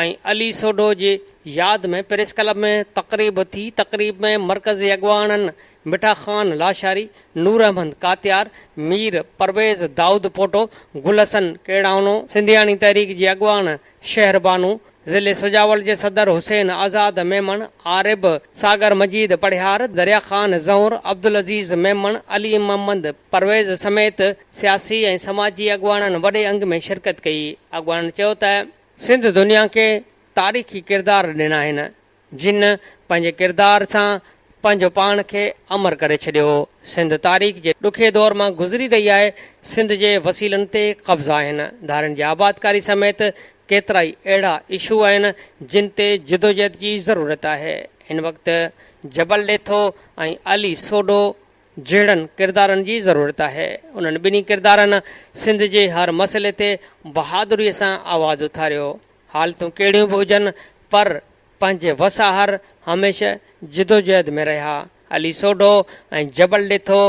S1: ۽ علي سوڍو جي ياد ۾ پريس ڪلب ۾ تقريب ٿي تقريب ۾ مرڪزي اڳواڻن مٺا خان لاشاري، نور احمد ڪاتيار، مير پرويز دائود پوٽو، گل حسن ڪيڙائونو، سنڌياڻي تحريڪ جي اڳواڻ شهر بانو، ضلعي سجاول جي صدر حسين آزاد ميمڻ، عارب ساگر مجيد پڙهيار، دريا خان زهور، عبدالعزيز ميمڻ، علي محمد پرويز سميت سياسي ۽ سماجي اڳواڻن وڏي انگ ۾ شرڪت ڪئي اڳواڻن چيو ته. سنڌ دنيا کي تاريخي ڪردار ڏنا آهن، جن پنهنجي ڪردار سان پنهنجو پاڻ کي امر ڪري ڇڏيو هو. سنڌ تاريخ جي ڏکي دور مان گذري رهي آهي، سنڌ جي وسيلن تي قبضا آهن، ڌارين جي آبادڪاري سميت ڪيترائي اهڙا اشو آهن، جن تي جدوجهد جي ضرورت آهي. هن وقت جبل ڏيٿو ۽ علي سوڍو جهڙن ڪردارن جي ضرورت آهي. انهن ٻنهي ڪردارن سنڌ جي هر مسئلي تي بهادري سان آواز اٿاريو. حالتون ڪهڙيون به هجن پر پنهنجي وس آهر هميشه جدوجهد ۾ رهيا. علي سوڍو ۽ جبل ڏيٿو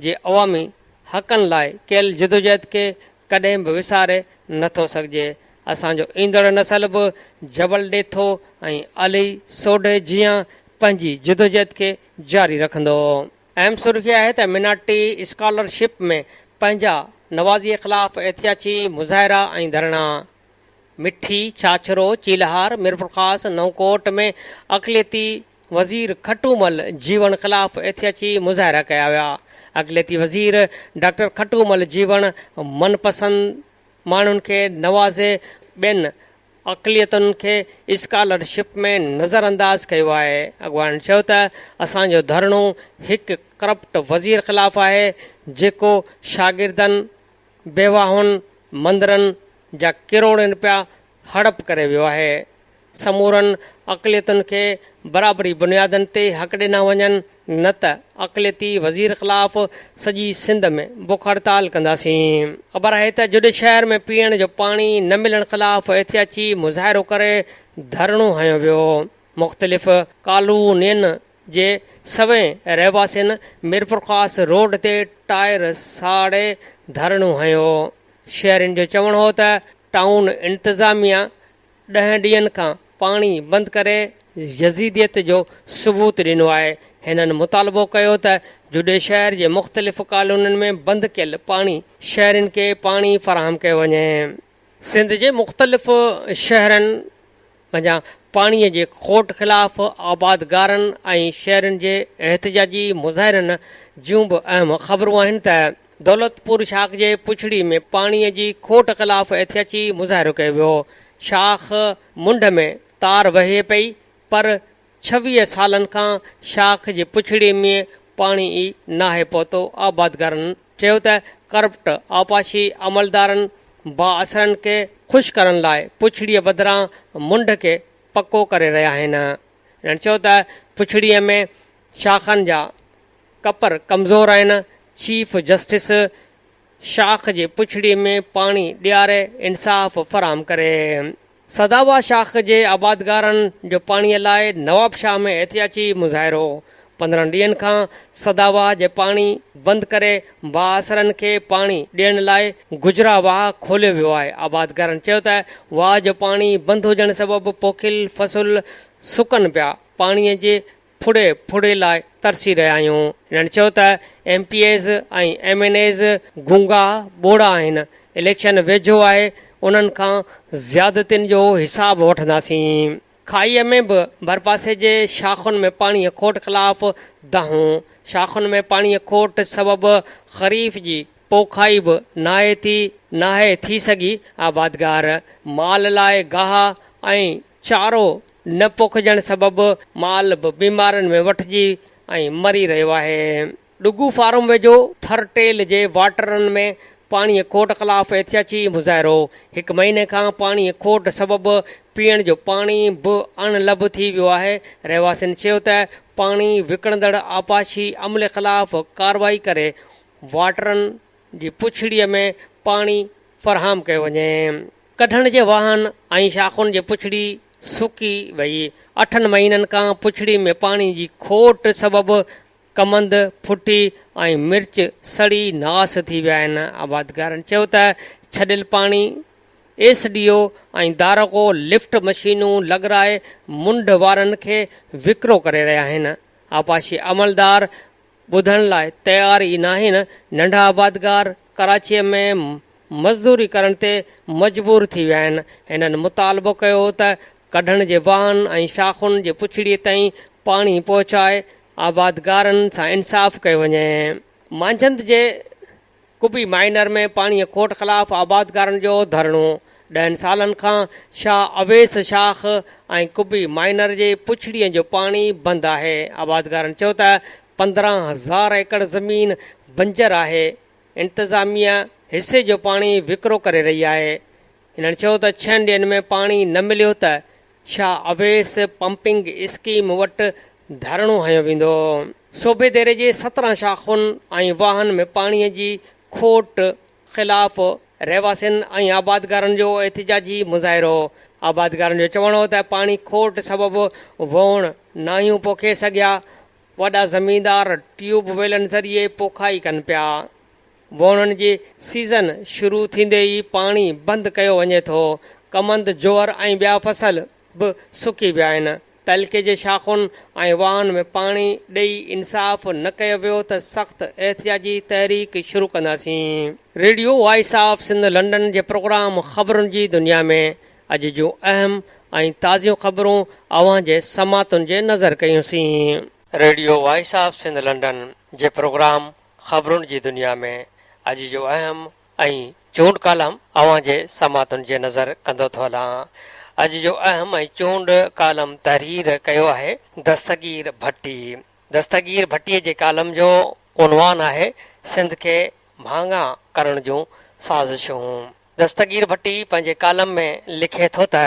S1: جي عوامي حقن لاء ڪيل جدوجهد کي ڪڏهن به وساري نه ٿو سگهجي. اسان جو ايندڙ نسل به جبل ڏيٿو ۽ علي سوڍي جيان پنهنجي جدوجهد کي جاري رکندو. اهم سرخي آهي ته مينارٽي اسڪالر شپ ۾ پنهنجا نوازي خلاف احتجاجي مظاهرا ۽ ڌرڻا مٺي، ڇاڇرو، چيلهار، ميرپورخاص، نئونڪوٽ ۾ اقليتي وزير کٽومل جيوڻ خلاف احتجاجي مظاهرا ڪيا ويا. اقليتي وزير ڊاڪٽر کٽومل جيوڻ من پسند ماڻهن کي نوازي ٻين اقليتن کي اسڪالر شپ ۾ نظر انداز ڪيو آهي، اڳواڻن چيو ته اسان جو ڌرڻو هڪ ڪرپٽ وزير خلاف آهي جيڪو شاگردن، بيواهن، مندرن جا ڪروڙين رپيا هڙپ ڪري ويو آهي، سمورن اقليتن کي برابري بنيادن تي حق ڏنا وڃن، نه ته اقليتي وزير خلاف سڄي سنڌ ۾ بک هڙتال ڪنداسين. خبر آهي ته جڏ شهر ۾ پيئڻ جو پاڻي نه ملڻ خلاف احتياجي مظاهرو ڪري ڌرڻو هنيو ويو. مختلف ڪالونين جي سوين رهواسين ميرپورخاص روڊ تي ٽائر ساڙي ڌرڻو هنيو. شهرين جو چوڻ هو ته ٽائون انتظاميا ڏهن ڏينهن کان پاڻي بند ڪري يزيديت جو ثبوت ڏنو آهي، هنن مطالبو ڪيو ته جوڏي شهر جي مختلف ڪالونين ۾ بند ڪيل پاڻي شهرين کي پاڻي فراهم ڪيو وڃي. سنڌ جي مختلف شهرن منجهان پاڻي جي کوٽ خلاف آبادگارن ۽ شهرين جي احتجاجي مظاهرن جون به اهم خبرون آهن ته دولتپور شاخ جي پڇڙي ۾ پاڻي جي کوٽ خلاف احتياجي مظاهرو ڪيو ويو، شاخ منڍ ۾ تار وهي پئي پر ڇويهه سالن کان شاخ جي پڇڙي ۾ پاڻي ئي ناهي پهتو، آبادگارن چيو ته ڪرپٽ آبپاشي عملدارن بااثرن کي خوش ڪرڻ لاء پڇڙي بدران منڍ کي پڪو ڪري رهيا آهن، هنن چيو ته پڇڙي ۾ شاخن جا. ڪپر ڪمزور آهن، چيف جسٽس شاخ جي پڇڙي ۾ پاڻي ڏياري انصاف فراهم ڪري. سداوا شاخ جي آبادگارن جو پاڻي لاء نوابشاهه ۾ احتجاجي مظاهرو، پندرهن ڏينهن کان سداوا جي پاڻي بند ڪري بااثرن کي پاڻي ڏيڻ لاء گجرا واهه کوليو ويو آهي، آبادگارن چيو ته واهه جو پاڻي بند هجڻ سبب پوکيل فصل سڪن پيا، پاڻي جي ڦڙي ڦڙي لاء ترسي رهيا آهيون. هنن چيو ته M P As ۽ M N As گونگا ٻوڙا آهن، اليڪشن ويجهو آهي، انهن کان زيادتين جو حساب وٺنداسين. کاهيء ۾ به ڀرپاسي جي شاخن ۾ پاڻيء کوٽ خلاف دانهون، شاخن ۾ پاڻيء کوٽ سبب خريف جي پوکائي به ناهي ٿي، ناهي ٿي سگهي، آبادگار مال لاء گاهه ۽ چارو نه پوکجڻ سبب مال به بيمارين ۾ وٺجي ۽ مري رهيو آهي. ڏگهو فارم ويجهو ٿر ٽيل جي واٽرن ۾ پاڻي کوٽ خلاف احتياجي مظاهرو، هڪ مهيني کان پاڻي کوٽ سبب پيئڻ جو پاڻي به اڻ لڀ ٿي ويو آهي، رهواسين چيو ته پاڻي وڪڻندڙ آبپاشي عملي خلاف ڪارروائي ڪري واٽرن جي پڇڙي ۾ پاڻي فراهم ڪيو وڃي. ڪڍڻ جي واهن ۽ شاخن جي پڇڙي سڪي وئي. اٺن مهينن کان پڇڙي ۾ پاڻي جي کوٽ سبب ڪمند ڦٽي ۽ مرچ سڙي ناس ٿي ويا آهن. آبادگارن چيو ته ڇڏيل پاڻي ايس ڊي او ۽ دارقو لفٽ مشينون لڳرائي منڍ وارن کي وڪرو ڪري رهيا آهن. آبپاشي عملدار ٻڌڻ لاء تيار ئي ناهن، ننڍا آبادگار ڪراچيء ۾ مزدوري ڪرڻ تي مجبور ٿي ويا آهن، هنن مطالبو ڪيو ته ڪڍڻ جي واهن ۽ شاخن جي پڇڙيء تائين پاڻي پهچائي آبادگارن سان انصاف ڪيو وڃي. مانجهند جي قبي مائنر ۾ پاڻي کوٽ خلاف آبادگارن جو ڌرڻو، ڏهن سالن کان شاهه اويس شاخ ۽ قبي مائنر جي پڇڙين جو پاڻي بند آهي، آبادگارن چيو ته پندرهن هزار ايڪڙ زمين بنجر آهي، انتظاميه حصي جو پاڻي وڪرو ڪري رهي آهي، هنن چيو ته ڇهن ڏينهن ۾ پاڻي نه مليو ته شاهه اويس پمپنگ اسڪيم وٽ ڌرڻو هنيو ويندو. صوبي ديري جي سترهن شاخن ۽ واهن ۾ پاڻي جي کوٽ خلاف رهواسين ۽ آبادگارن جو احتجاجي مظاهرو، آبادگارن جو چوڻ هو ته پاڻي کوٽ سبب ووڻ ناهيون پوکي سگهيا، وڏا زميندار ٽيوب ويلن ذريعي پوکائي ڪن پيا. ووڻن جي سيزن شروع ٿيندي ئي پاڻي بند ڪيو وڃي ٿو، ڪمند، جوئر ۽ ٻيا فصل به سڪي ويا آهن، تعلقي جي شاخن ۽ واهن ۾ پاڻي ڏئي انصاف نه ڪيو ويو ته سخت احتجاجي تحريڪ شروع ڪنداسين. Radio voice of Sindh London جي پروگرام خبرن جي دنيا ۾ اڄ جون اهم ۽ تازيون خبرون اوهان جي سماعتن جي نظر ڪيون سين. Radio voice of Sindh London جي پروگرام خبرن جي دنيا ۾ اڄ جو اهم ۽ چونڊ ڪالم اوهان جي سماعتن جي نظر ڪندو ٿو هلان. اڄ جو اهم ۽ چونڊ ڪالم تحرير ڪيو آهي دستگير ڀٽي. دستگير ڀٽي جي ڪالم جو عنوان آهي سنڌ کي مھانگا ڪرڻ جون سازشون. دستگير ڀٽي پنهنجي ڪالم ۾ لکي ٿو ته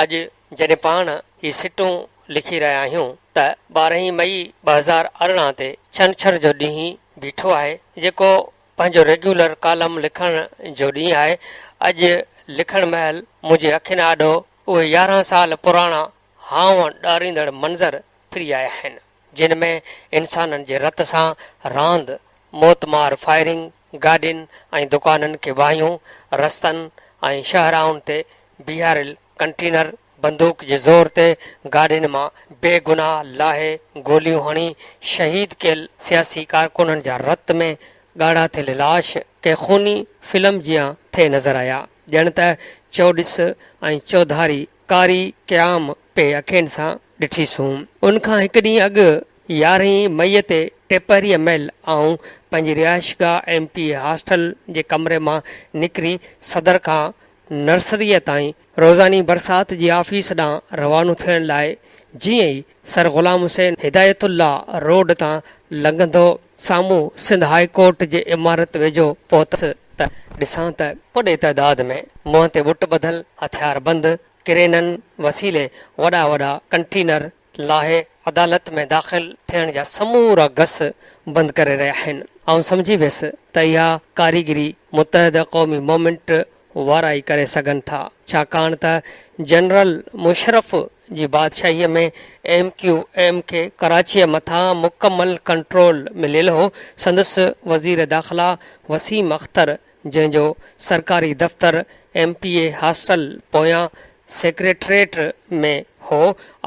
S1: اڄ جڏهن پاڻ هي سٽون لکي رهيا آهيون ته ٻارهين مئي ٻه هزار ارڙهن تي ڇنڇر جو ڏينهن بيٺو آهي جيڪو پنهنجو ريگيولر ڪالم لکڻ جو ڏينهن آهي اڄ لکڻ مهل منهنجي اکين آڏو اهي يارهن سال پراڻا هانء ڏاريندڙ منظر ڦري آيا آهن. جن ۾ انسانن جي رت سان راند، موت مار فائرنگ، گاڏين ۽ دڪانن کي واهيون، رستن ۽ شاهراهن تي بيهاريل ڪنٽينر، بندوق جي زور تي گاڏين مان بي گناهه لاهي گوليون هڻي شهيد ڪيل سياسي ڪارڪنن جا رت ۾ ڳاڙها ٿيل لاش ڪنهن خوني فلم جيان ٿئي نظر آيا، ڄڻ ته چوڏس ۽ چوڌاري قاري قيام پي اکين سان ڏٺيسون. ان کان هڪ ڏينهن اڳ يارهين مئي تي ٽيپهريء مهل آئون پنهنجي رهائشگاهه ايم پي اي هاسٽل جي ڪمري مان نڪري صدر کان نرسريء تائين روزاني برسات جي آفيس ڏانهن روانو ٿيڻ لاء جيئن ئي سر غلام حسين هدايت الله روڊ تان لنگهندو سامهون سنڌ هاء ڪورٽ جي عمارت ويجهو پهتس ته ڏسان ته وڏي تعداد ۾ منهن تي ٻٽ ٻڌل هٿياربند ڪرينن وسيلي وڏا وڏا ڪنٽينر لاهي عدالت ۾ داخل ٿيڻ جا سمورا گس بند ڪري رهيا آهن. آئون سمجهي ويس ته اها ڪاريگري متحده قومي مومينٽ وارا ئي ڪري سگهن ٿا ڇاڪاڻ ته جنرل مشرف جي بادشاهيء ۾ ايم ڪيو ايم کي ڪراچيء مٿان مڪمل ڪنٽرول مليل هو. سندس وزير داخلا وسيم اختر جنهن جو سرڪاري دفتر ايم پي اي هاسٽل پويان سيڪريٽريٽ ۾ هو،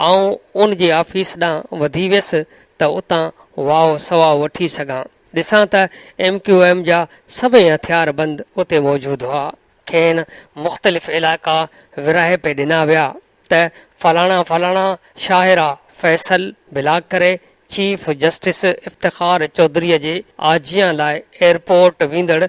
S1: آئون ان جي آفيس ڏانهن وڌي ويس ته اتان واء سواء وٺي سگهان. ڏسان ته ايم ڪيو ايم جا سڀئي هٿيار بند اتي موجود هئا. کين مختلف علائقا ورهائي پئي ڏنا ويا. ته فلاڻا فلاڻا شاهرا فيصل بلاڪ ڪري چيف جسٽس افتخار چوڌري جي آجيان لاء ايئرپورٽ ويندڙ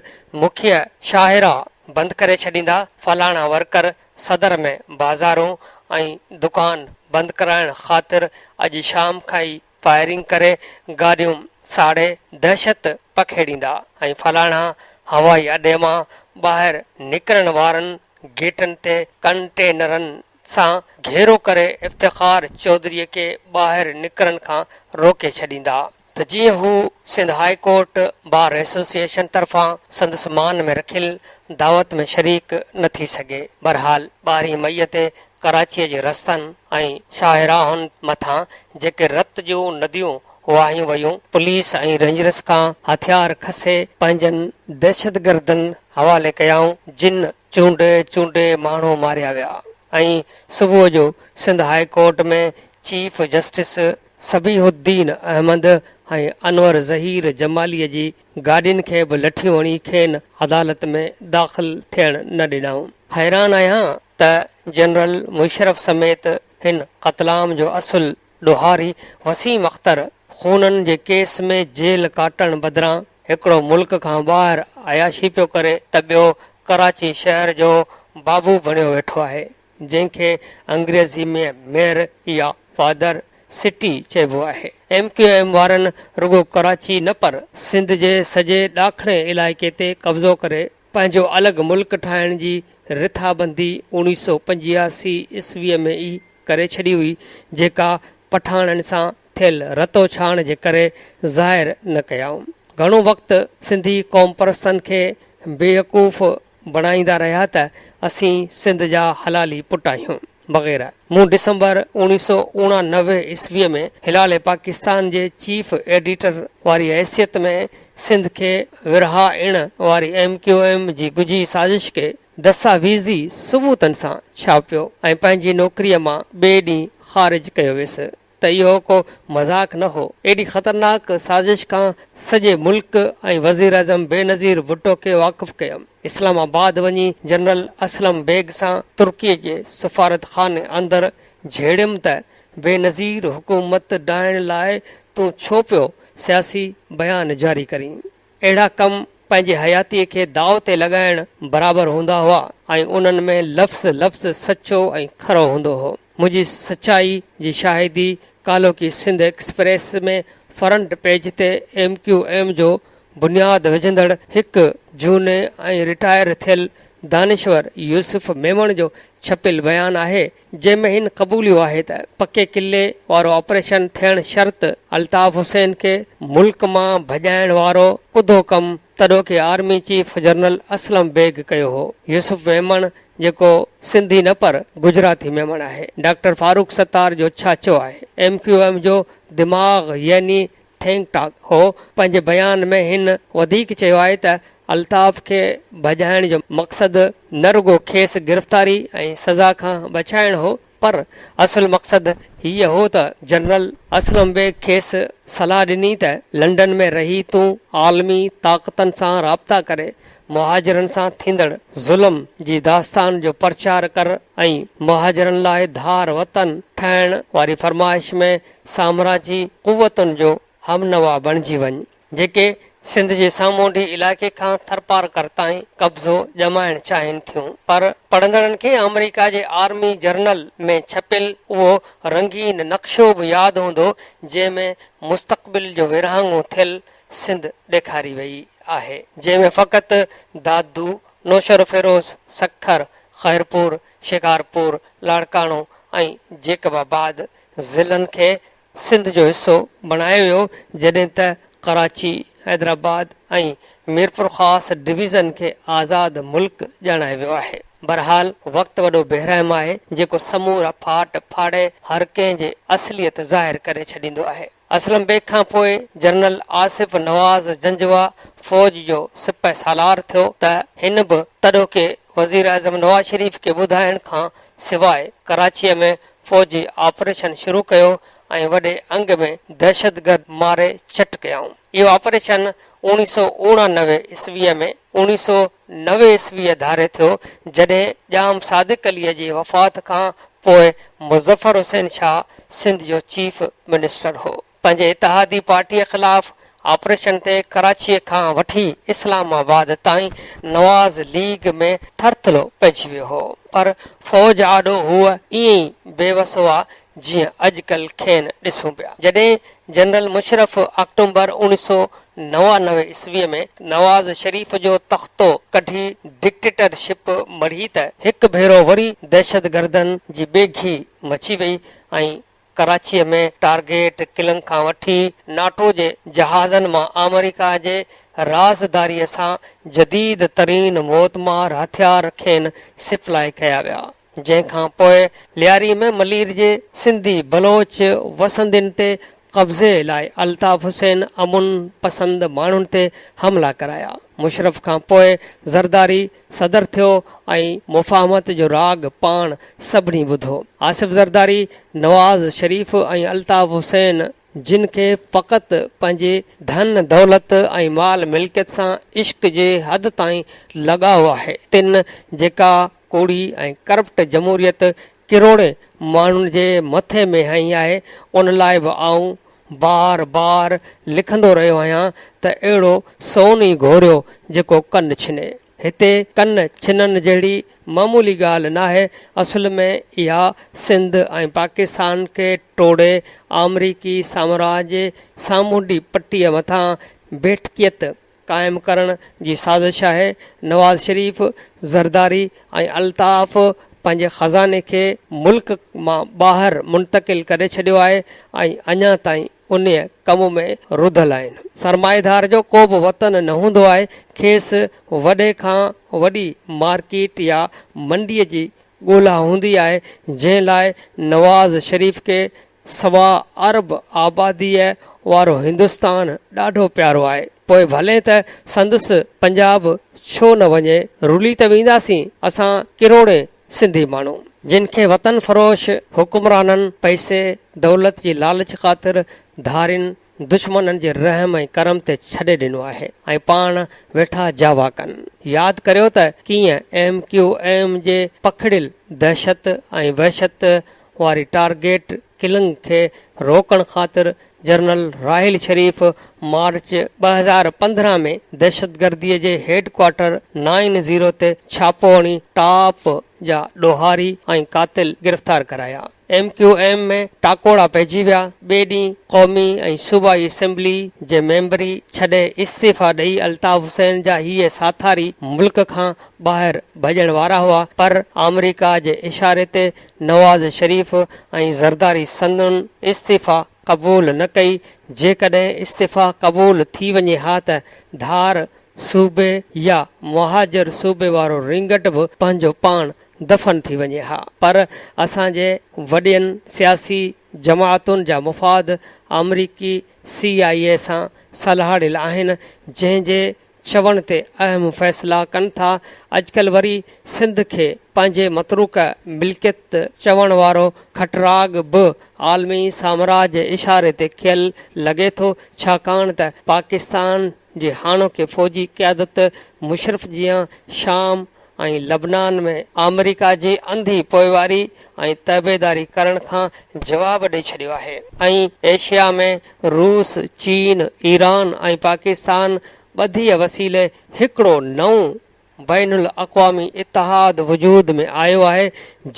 S1: مکيه شاهرا بند ڪري ڇڏيندا، فلاڻا ورڪر صدر ۾ بازارون ۽ دڪان بند ڪرائڻ خاطر اڄ شام کان ئي فائرنگ ڪري گاڏيون ساڙي دهشت پکيڙيندا ۽ فلاڻا هوائي اڏي مان ٻاهر نڪرڻ وارن گيٽن تي ڪنٽينرن سان گهيرو ڪري افتخار چوڌري کي ٻاهر نڪرڻ کان روڪي ڇڏيندا ته جيئن هو Sindh high court bar association طرفان سندس مان ۾ رکيل دعوت ۾ شريڪ نه ٿي سگهي. بهرحال ٻارهين مئي تي ڪراچيء جي رستن ۽ شاهراهن مٿان جيڪي رت جون نديون وهايون ويون، پوليس ۽ رينجرز کان هٿيار کسي پنهنجن دهشتگردن حوالي ڪيائون، جن چونڊي چونڊي ماڻهو ماريا ويا ۽ صبح جو Sindh high court ۾ chief justice Sabih Uddin Ahmed ۽ Anwar Zaheer جماليء جي گاڏين کي به لٺيون هڻي کين عدالت ۾ داخل ٿيڻ نه ڏنائون. حيران آهيان ته جنرل مشرف سميت هن قتلام جو اصل ڏوهاري وسيم اختر خونن جي ڪيس ۾ جيل ڪاٽڻ بدران هڪڙو ملڪ کان ٻاهر عياشي پيو ڪري ته ٻيو ڪراچي شهر جو بابو بڻيو ويٺو آهي جنهن کي انگريزي ۾ ميئر يا فادر سٽي چئبو آهي ايم ڪيو ايم وارن رڳو ڪراچي نه پر سنڌ جي سڄي ڏاکڻي علائقي تي قبضو ڪري پنهنجو الڳ ملڪ ٺاهڻ جي رٿابندي اوڻيهه سؤ پنجياسي عيسويء ۾ ئي ڪري ڇڏي هئي، جيڪا پٺاڻن سان ٿيل رتوڇاڻ جي ڪري ظاهر نه ڪيائون. گهڻو وقت سنڌي قومپرستن کي بيوقوف بڻائيندا رهيا ته اسين سنڌ جا حلالي پٽ آهيون. وغيره. مون ڊسمبر اوڻيهه سؤ اوڻانوي عيسويء ۾ هلال پاڪستان جي چيف ايڊيٽر واري حيثيت ۾ سنڌ کي ورهائڻ واري ايم ڪيو ايم جي ڳجهي سازش کي دستاويزي ثبوتن سان ڇاپيو ۽ پنهنجي نوڪريء مان ٻئي ڏينهن خارج ڪيو ويس. ته اهو ڪو مذاق نه هو، ايڏي خطرناڪ سازش کان سڄي ملڪ ۽ وزيراعظم بينظير ڀٽو کي واقف ڪيم، اسلام آباد وڃي جنرل اسلم بيگ سان ترڪي جي سفارتخاني اندر جهيڙيم ته بينظير حڪومت ڊاهڻ لاء تون ڇو پيو سياسي بيان جاري ڪرين؟ اهڙا ڪم پنهنجي حياتيء کي داء تي لڳائڻ برابر هوندا هئا ۽ انهن ۾ لفظ لفظ سچو ۽ کرو هوندو هو. منهنجي سچائي جي شاهدي ڪالهوڪي سنڌ ايڪسپريس ۾ فرنٽ پيج تي ايم ڪيو ايم جو بنياد وجهندڙ هڪ جهوني ۽ رٽائر ٿيل دانشور يوسف ميمڻ جو ڇپيل بيان آهي جنهن ۾ هن قبوليو آهي ته پڪي قلعي وارو آپريشن ٿيڻ شرط الطاف حسين کي ملڪ مان ڀڄائڻ وارو ڪڌو ڪم تڏهوڪي army chief general Aslam Beg ڪيو هو. يوسف ميمڻ جيڪو سنڌي نه پر گجراتي ميمڻ آهي ڊاڪٽر فاروق ستار جو ڇاڇو آهي. ايم ڪيو ايم جو دماغ يعني ٿينڪ ٽاڪ هو پنهنجي بيان ۾ هن وڌيڪ چيو آهي ته الطاف کي ڀڄائڻ جو مقصد نه رڳو کيس گرفتاري ۽ سزا کان بچائڻ هو پر اصل مقصد هيء هو ته جنرل اسلم بيگ کيس صلاح ڏني ته لنڊن ۾ رهي تون عالمي طاقتن سان رابطا ڪري مهاجرن سان ٿيندڙ ظلم جي داستان جو پرچار ڪر ۽ مهاجرن لاء ڌار وطن ٺاهڻ واري فرمائش ۾ سامراجي قوتن جو همنوا بڻجي وڃ جيڪي سنڌ جي سامونڊي علائقي کان ٿرپارڪر تائين قبضو ڄمائڻ چاهين ٿيون پر پڙهندڙن کي آمريڪا جي آرمي جرنل ۾ ڇپيل اهو رنگين نقشو به ياد هوندو جنهن ۾ مستقبل جو ورهاڱو ٿيل سنڌ ڏيکاري وئي آهي جنهن ۾ فقط دادو، نوشهروفيروز، سکر، خيرپور، شڪارپور، لاڙڪاڻو ۽ جيڪب آباد ضلعن کي سنڌ جو حصو بڻايو ويو جڏهن ته ڪراچي، حيدرآباد ۽ ميرپورخاص ڊويزن کي آزاد ملڪ ڄاڻايو ويو آهي. بهرحال وقت وڏو بيرحم آهي جيڪو سمورا ڦاٽ ڦاڙي هر ڪنهن جي اصليت ظاهر ڪري ڇڏيندو آهي. اسلم بيگ کان پوء جنرل آصف نواز جنجوعه فوج جو سپهه سالار ٿيو ته هن به تڏهوڪي وزيراعظم نواز شريف کي ٻڌائڻ کان سواء ڪراچيء ۾ فوجي آپريشن شروع ڪيو ۽ وڏي انگ ۾ دهشتگرد ماري چٽ ڪيائون. اهو آپريشن اوڻيهه سؤ اوڻانوي عيسويء ۾ اوڻيهه سؤ نوي عيسويء ڌاري ٿيو، جڏهن ڄام صادق عليء جي وفات کان پوء مظفر حسين شاهه سنڌ جو چيف منسٽر هو. پنهنجي اتحادي پارٽيء خلاف آپريشن تي ڪراچيء کان وٺي اسلام آباد تائين نواز ليگ ۾ ٿرٿلو پئجي ويو هو، پر فوج آڏو هو ائين ئي بيوس هئا، جيئن اڄڪلهه کين ڏسون پيا. جڏهن جنرل مشرف آڪٽومبر اوڻيهه سؤ نوانوي عيسويء ۾ نواز شريف جو تختو ڪڍي ڊڪٽيٽر شپ مڙهي ته هڪ ڀيرو وري دهشتگردن جي ٻيگهي مچي وئي ۽ ڪراچيء ۾ ٽارگيٽ ڪلنگ کان وٺي ناٽو جي جهازن مان آمريڪا جي رازداريء سان جديد ترين موتمار هٿيار کين سپلائي ڪيا ويا. جنهن کان پوء لياري ۾ ملير جي سنڌي بلوچ وسندين تي قبضي لاء الطاف حسين امن پسند ماڻهن تي حملا ڪرايا. مشرف کان پوء زرداري صدر ٿيو ۽ مفاهمت جو راڳ پاڻ سڀني ٻڌو. آصف زرداري، نواز شريف ۽ الطاف حسين جن کي فقط پنهنجي ڌن دولت ۽ مال ملڪيت سان عشق جي حد تائين لڳاء آهي، تن جيڪا ڪوڙي ۽ ڪرپٽ جمهوريت ڪروڙين ماڻهن جي مٿي ۾ هنئي آهي ان لاء به آئون بار بار لکندو رهيو آهيان ته اهڙو سون ئي گهوريو جيڪو ڪن ڇني. هتي ڪن ڇنڻ جهڙي معمولي ڳالهه ناهي اصل ۾ اها سنڌ ۽ پاڪستان کي ٽوڙي آمريڪي سامراج جي سامونڊي پٽي مٿان بيٺڪيت قائم ڪرڻ جي سازش آهي، نواز شريف، زرداري ۽ الطاف پنهنجي خزاني کي ملڪ مان ٻاهر منتقل ڪري ڇڏيو آهي ۽ اڃا تائين انهيء ڪم ۾ رڌل آهن. سرمائيدار جو ڪو به وطن نه هوندو آهي، کيس وڏي کان وڏي مارڪيٽ يا منڊيء جي ڳولا هوندي آهي، جنهن لاء نواز شريف کي سوا ارب آباديء وارو هندستان ڏاڍو پيارو آهي، پوء ڀلي ته سندس پنجاب ڇو نه وڃي، رلي ته وينداسين اسان ڪروڙين سنڌي ماڻهو، جن کي وطن فروش حڪمرانن پئسي دولت جي لالچ خاطر ڌارين دشمنن جي رحم ۽ ڪرم تي ڇڏي ڏنو آهي ۽ پاڻ ويٺا جاوا ڪن. ياد ڪريو ته ڪيئن ايم ڪيو ايم جي پکڙيل دهشت ۽ وحشت واري ٽارگيٽ ڪلنگ کي روڪڻ خاطر جنرل راحيل شريف مارچ ٻه هزار پندرهن ۾ دهشتگردي جي هيڊ ڪوارٽر نائن زيرو تي ڇاپو هڻي ٽاپ جا ڏوهاري ۽ قاتل گرفتار ڪرايا. ايم ڪيو ايم ۾ ٽاڪوڙا پئجي ويا، ٻئي ڏينهن قومي ۽ صوبائي اسيمبلي جي ميمبري ڇڏي استعيفا ڏئي الطاف حسين جا هيء ساٿاري ملڪ کان ٻاهر ڀڄڻ وارا هئا پر آمريڪا جي اشاري تي نواز شريف ۽ زرداري سندن استعيفا قبول نه ڪئي، جيڪڏهن استعيفا قبول ٿي وڃي ها ته ڌار صوبي يا مهاجر صوبي وارو رينگٽ به پنهنجو پاڻ دفن ٿي وڃي ها پر اسان جي وڏين سياسي جماعتن جا مفاد آمريڪي سي آء اي سان سلهاڙيل آهن جنهن جي چوڻ تي اهم فيصلا ڪن ٿا اڄڪلهه وري سنڌ کي پنهنجي متروڪه ملڪيت چوڻ وارو کٽراڳ به عالمي سامراج اشاري تي ڪيل لڳي ٿو ڇاڪاڻ ته پاڪستان جي هاڻوڪي فوجي قيادت مشرف جيان شام ۽ لبنان ۾ آمريڪا جي انڌي پوئواري ۽ تعبيداري ڪرڻ کان جواب ڏئي ڇڏيو آهي ۽ ايشيا ۾ روس، چين، ايران ۽ پاڪستان ٻڌيء وسيلي هڪڙو نئون بين الاقوامي اتحاد وجود ۾ آيو آهي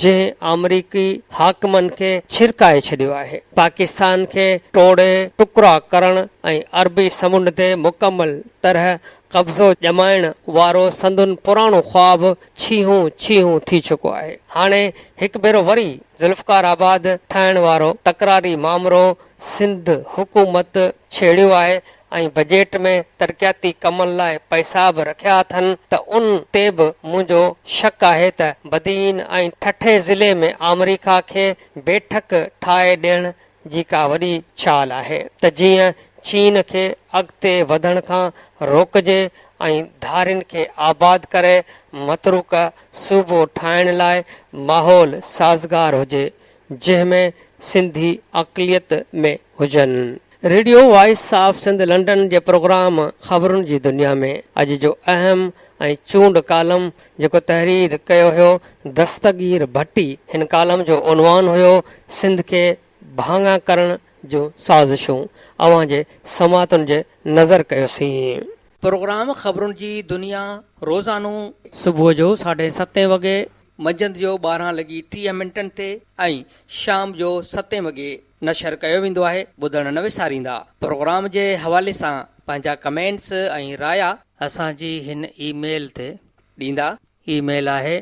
S1: جنهن آمريڪي حاڪمن کي ڇرڪائي ڇڏيو آهي، پاڪستان کي ٽوڙي ٽڪرا ڪرڻ ۽ عربي سمنڊ تي مڪمل طرح قبضو ڄمائڻ وارو سندن پراڻو خواب ڇيهون ڇيهون ٿي چڪو آهي. هاڻي هڪ ڀيرو وري ذوالفقار آباد ٺاهڻ وارو تڪراري مامرو سنڌ حڪومت ڇيڙيو آهي ۽ بجيٽ ۾ ترقياتي ڪمن لاء پئسا به رکيا اٿن ته ان تي به منهنجو شڪ آهي ته بدين ۽ ٺٽي ضلعي ۾ آمريڪا کي بيٺڪ ٺاهي ڏيڻ جي ڪا وڏي چال آهي ته جيئن چين کي اڳتي وڌڻ کان روڪجي ۽ ڌارين کي آباد ڪري متروڪه صوبو ٺاهڻ لاء ماحول سازگار هجي جنهن ۾ سنڌي اقليت ۾ هجن. Radio voice of Sindh London جي پروگرام خبرن جي دنيا ۾ اڄ جو اهم ۽ چونڊ ڪالم جيڪو تحرير ڪيو هيو دستگير ڀٽي هن ڪالم جو عنوان هيو سنڌ کي ڀاڱا ڪرڻ جون سازشون اوهان جي سماعتن جي نظر ڪيوسين. پروگرام خبرن جي دنيا روزانو. صبح جو ساڍي ستين وڳي. منجهند جو ٻارهن لڳي ٽيهه منٽن تي ۽ شام جو ستين وڳي نشر ڪيو ويندو آهي ٻڌڻ نه وساريندا پروگرام جي حوالي سان پنهنجا ڪمينٽس ۽ رايا. اسان جي هن اي ميل تي ڏيندا. اي ميل آهي.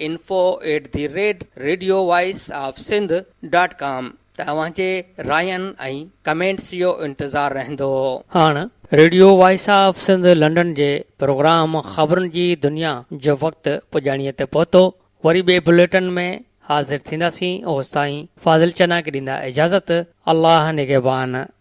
S1: Info at the rate radio voice of Sindh dot com توهان جي راين ۽ ڪمينٽس جو انتظار رهندو. هاڻ radio voice of Sindh London جي پروگرام خبرن جي دنيا جو وقت پڄاڻيء تي پهتو. وري ٻئي بليٽن ۾ حاضر ٿينداسين اوستائين فاضل چناڪ ڏيندا اجازت الله نگهبان.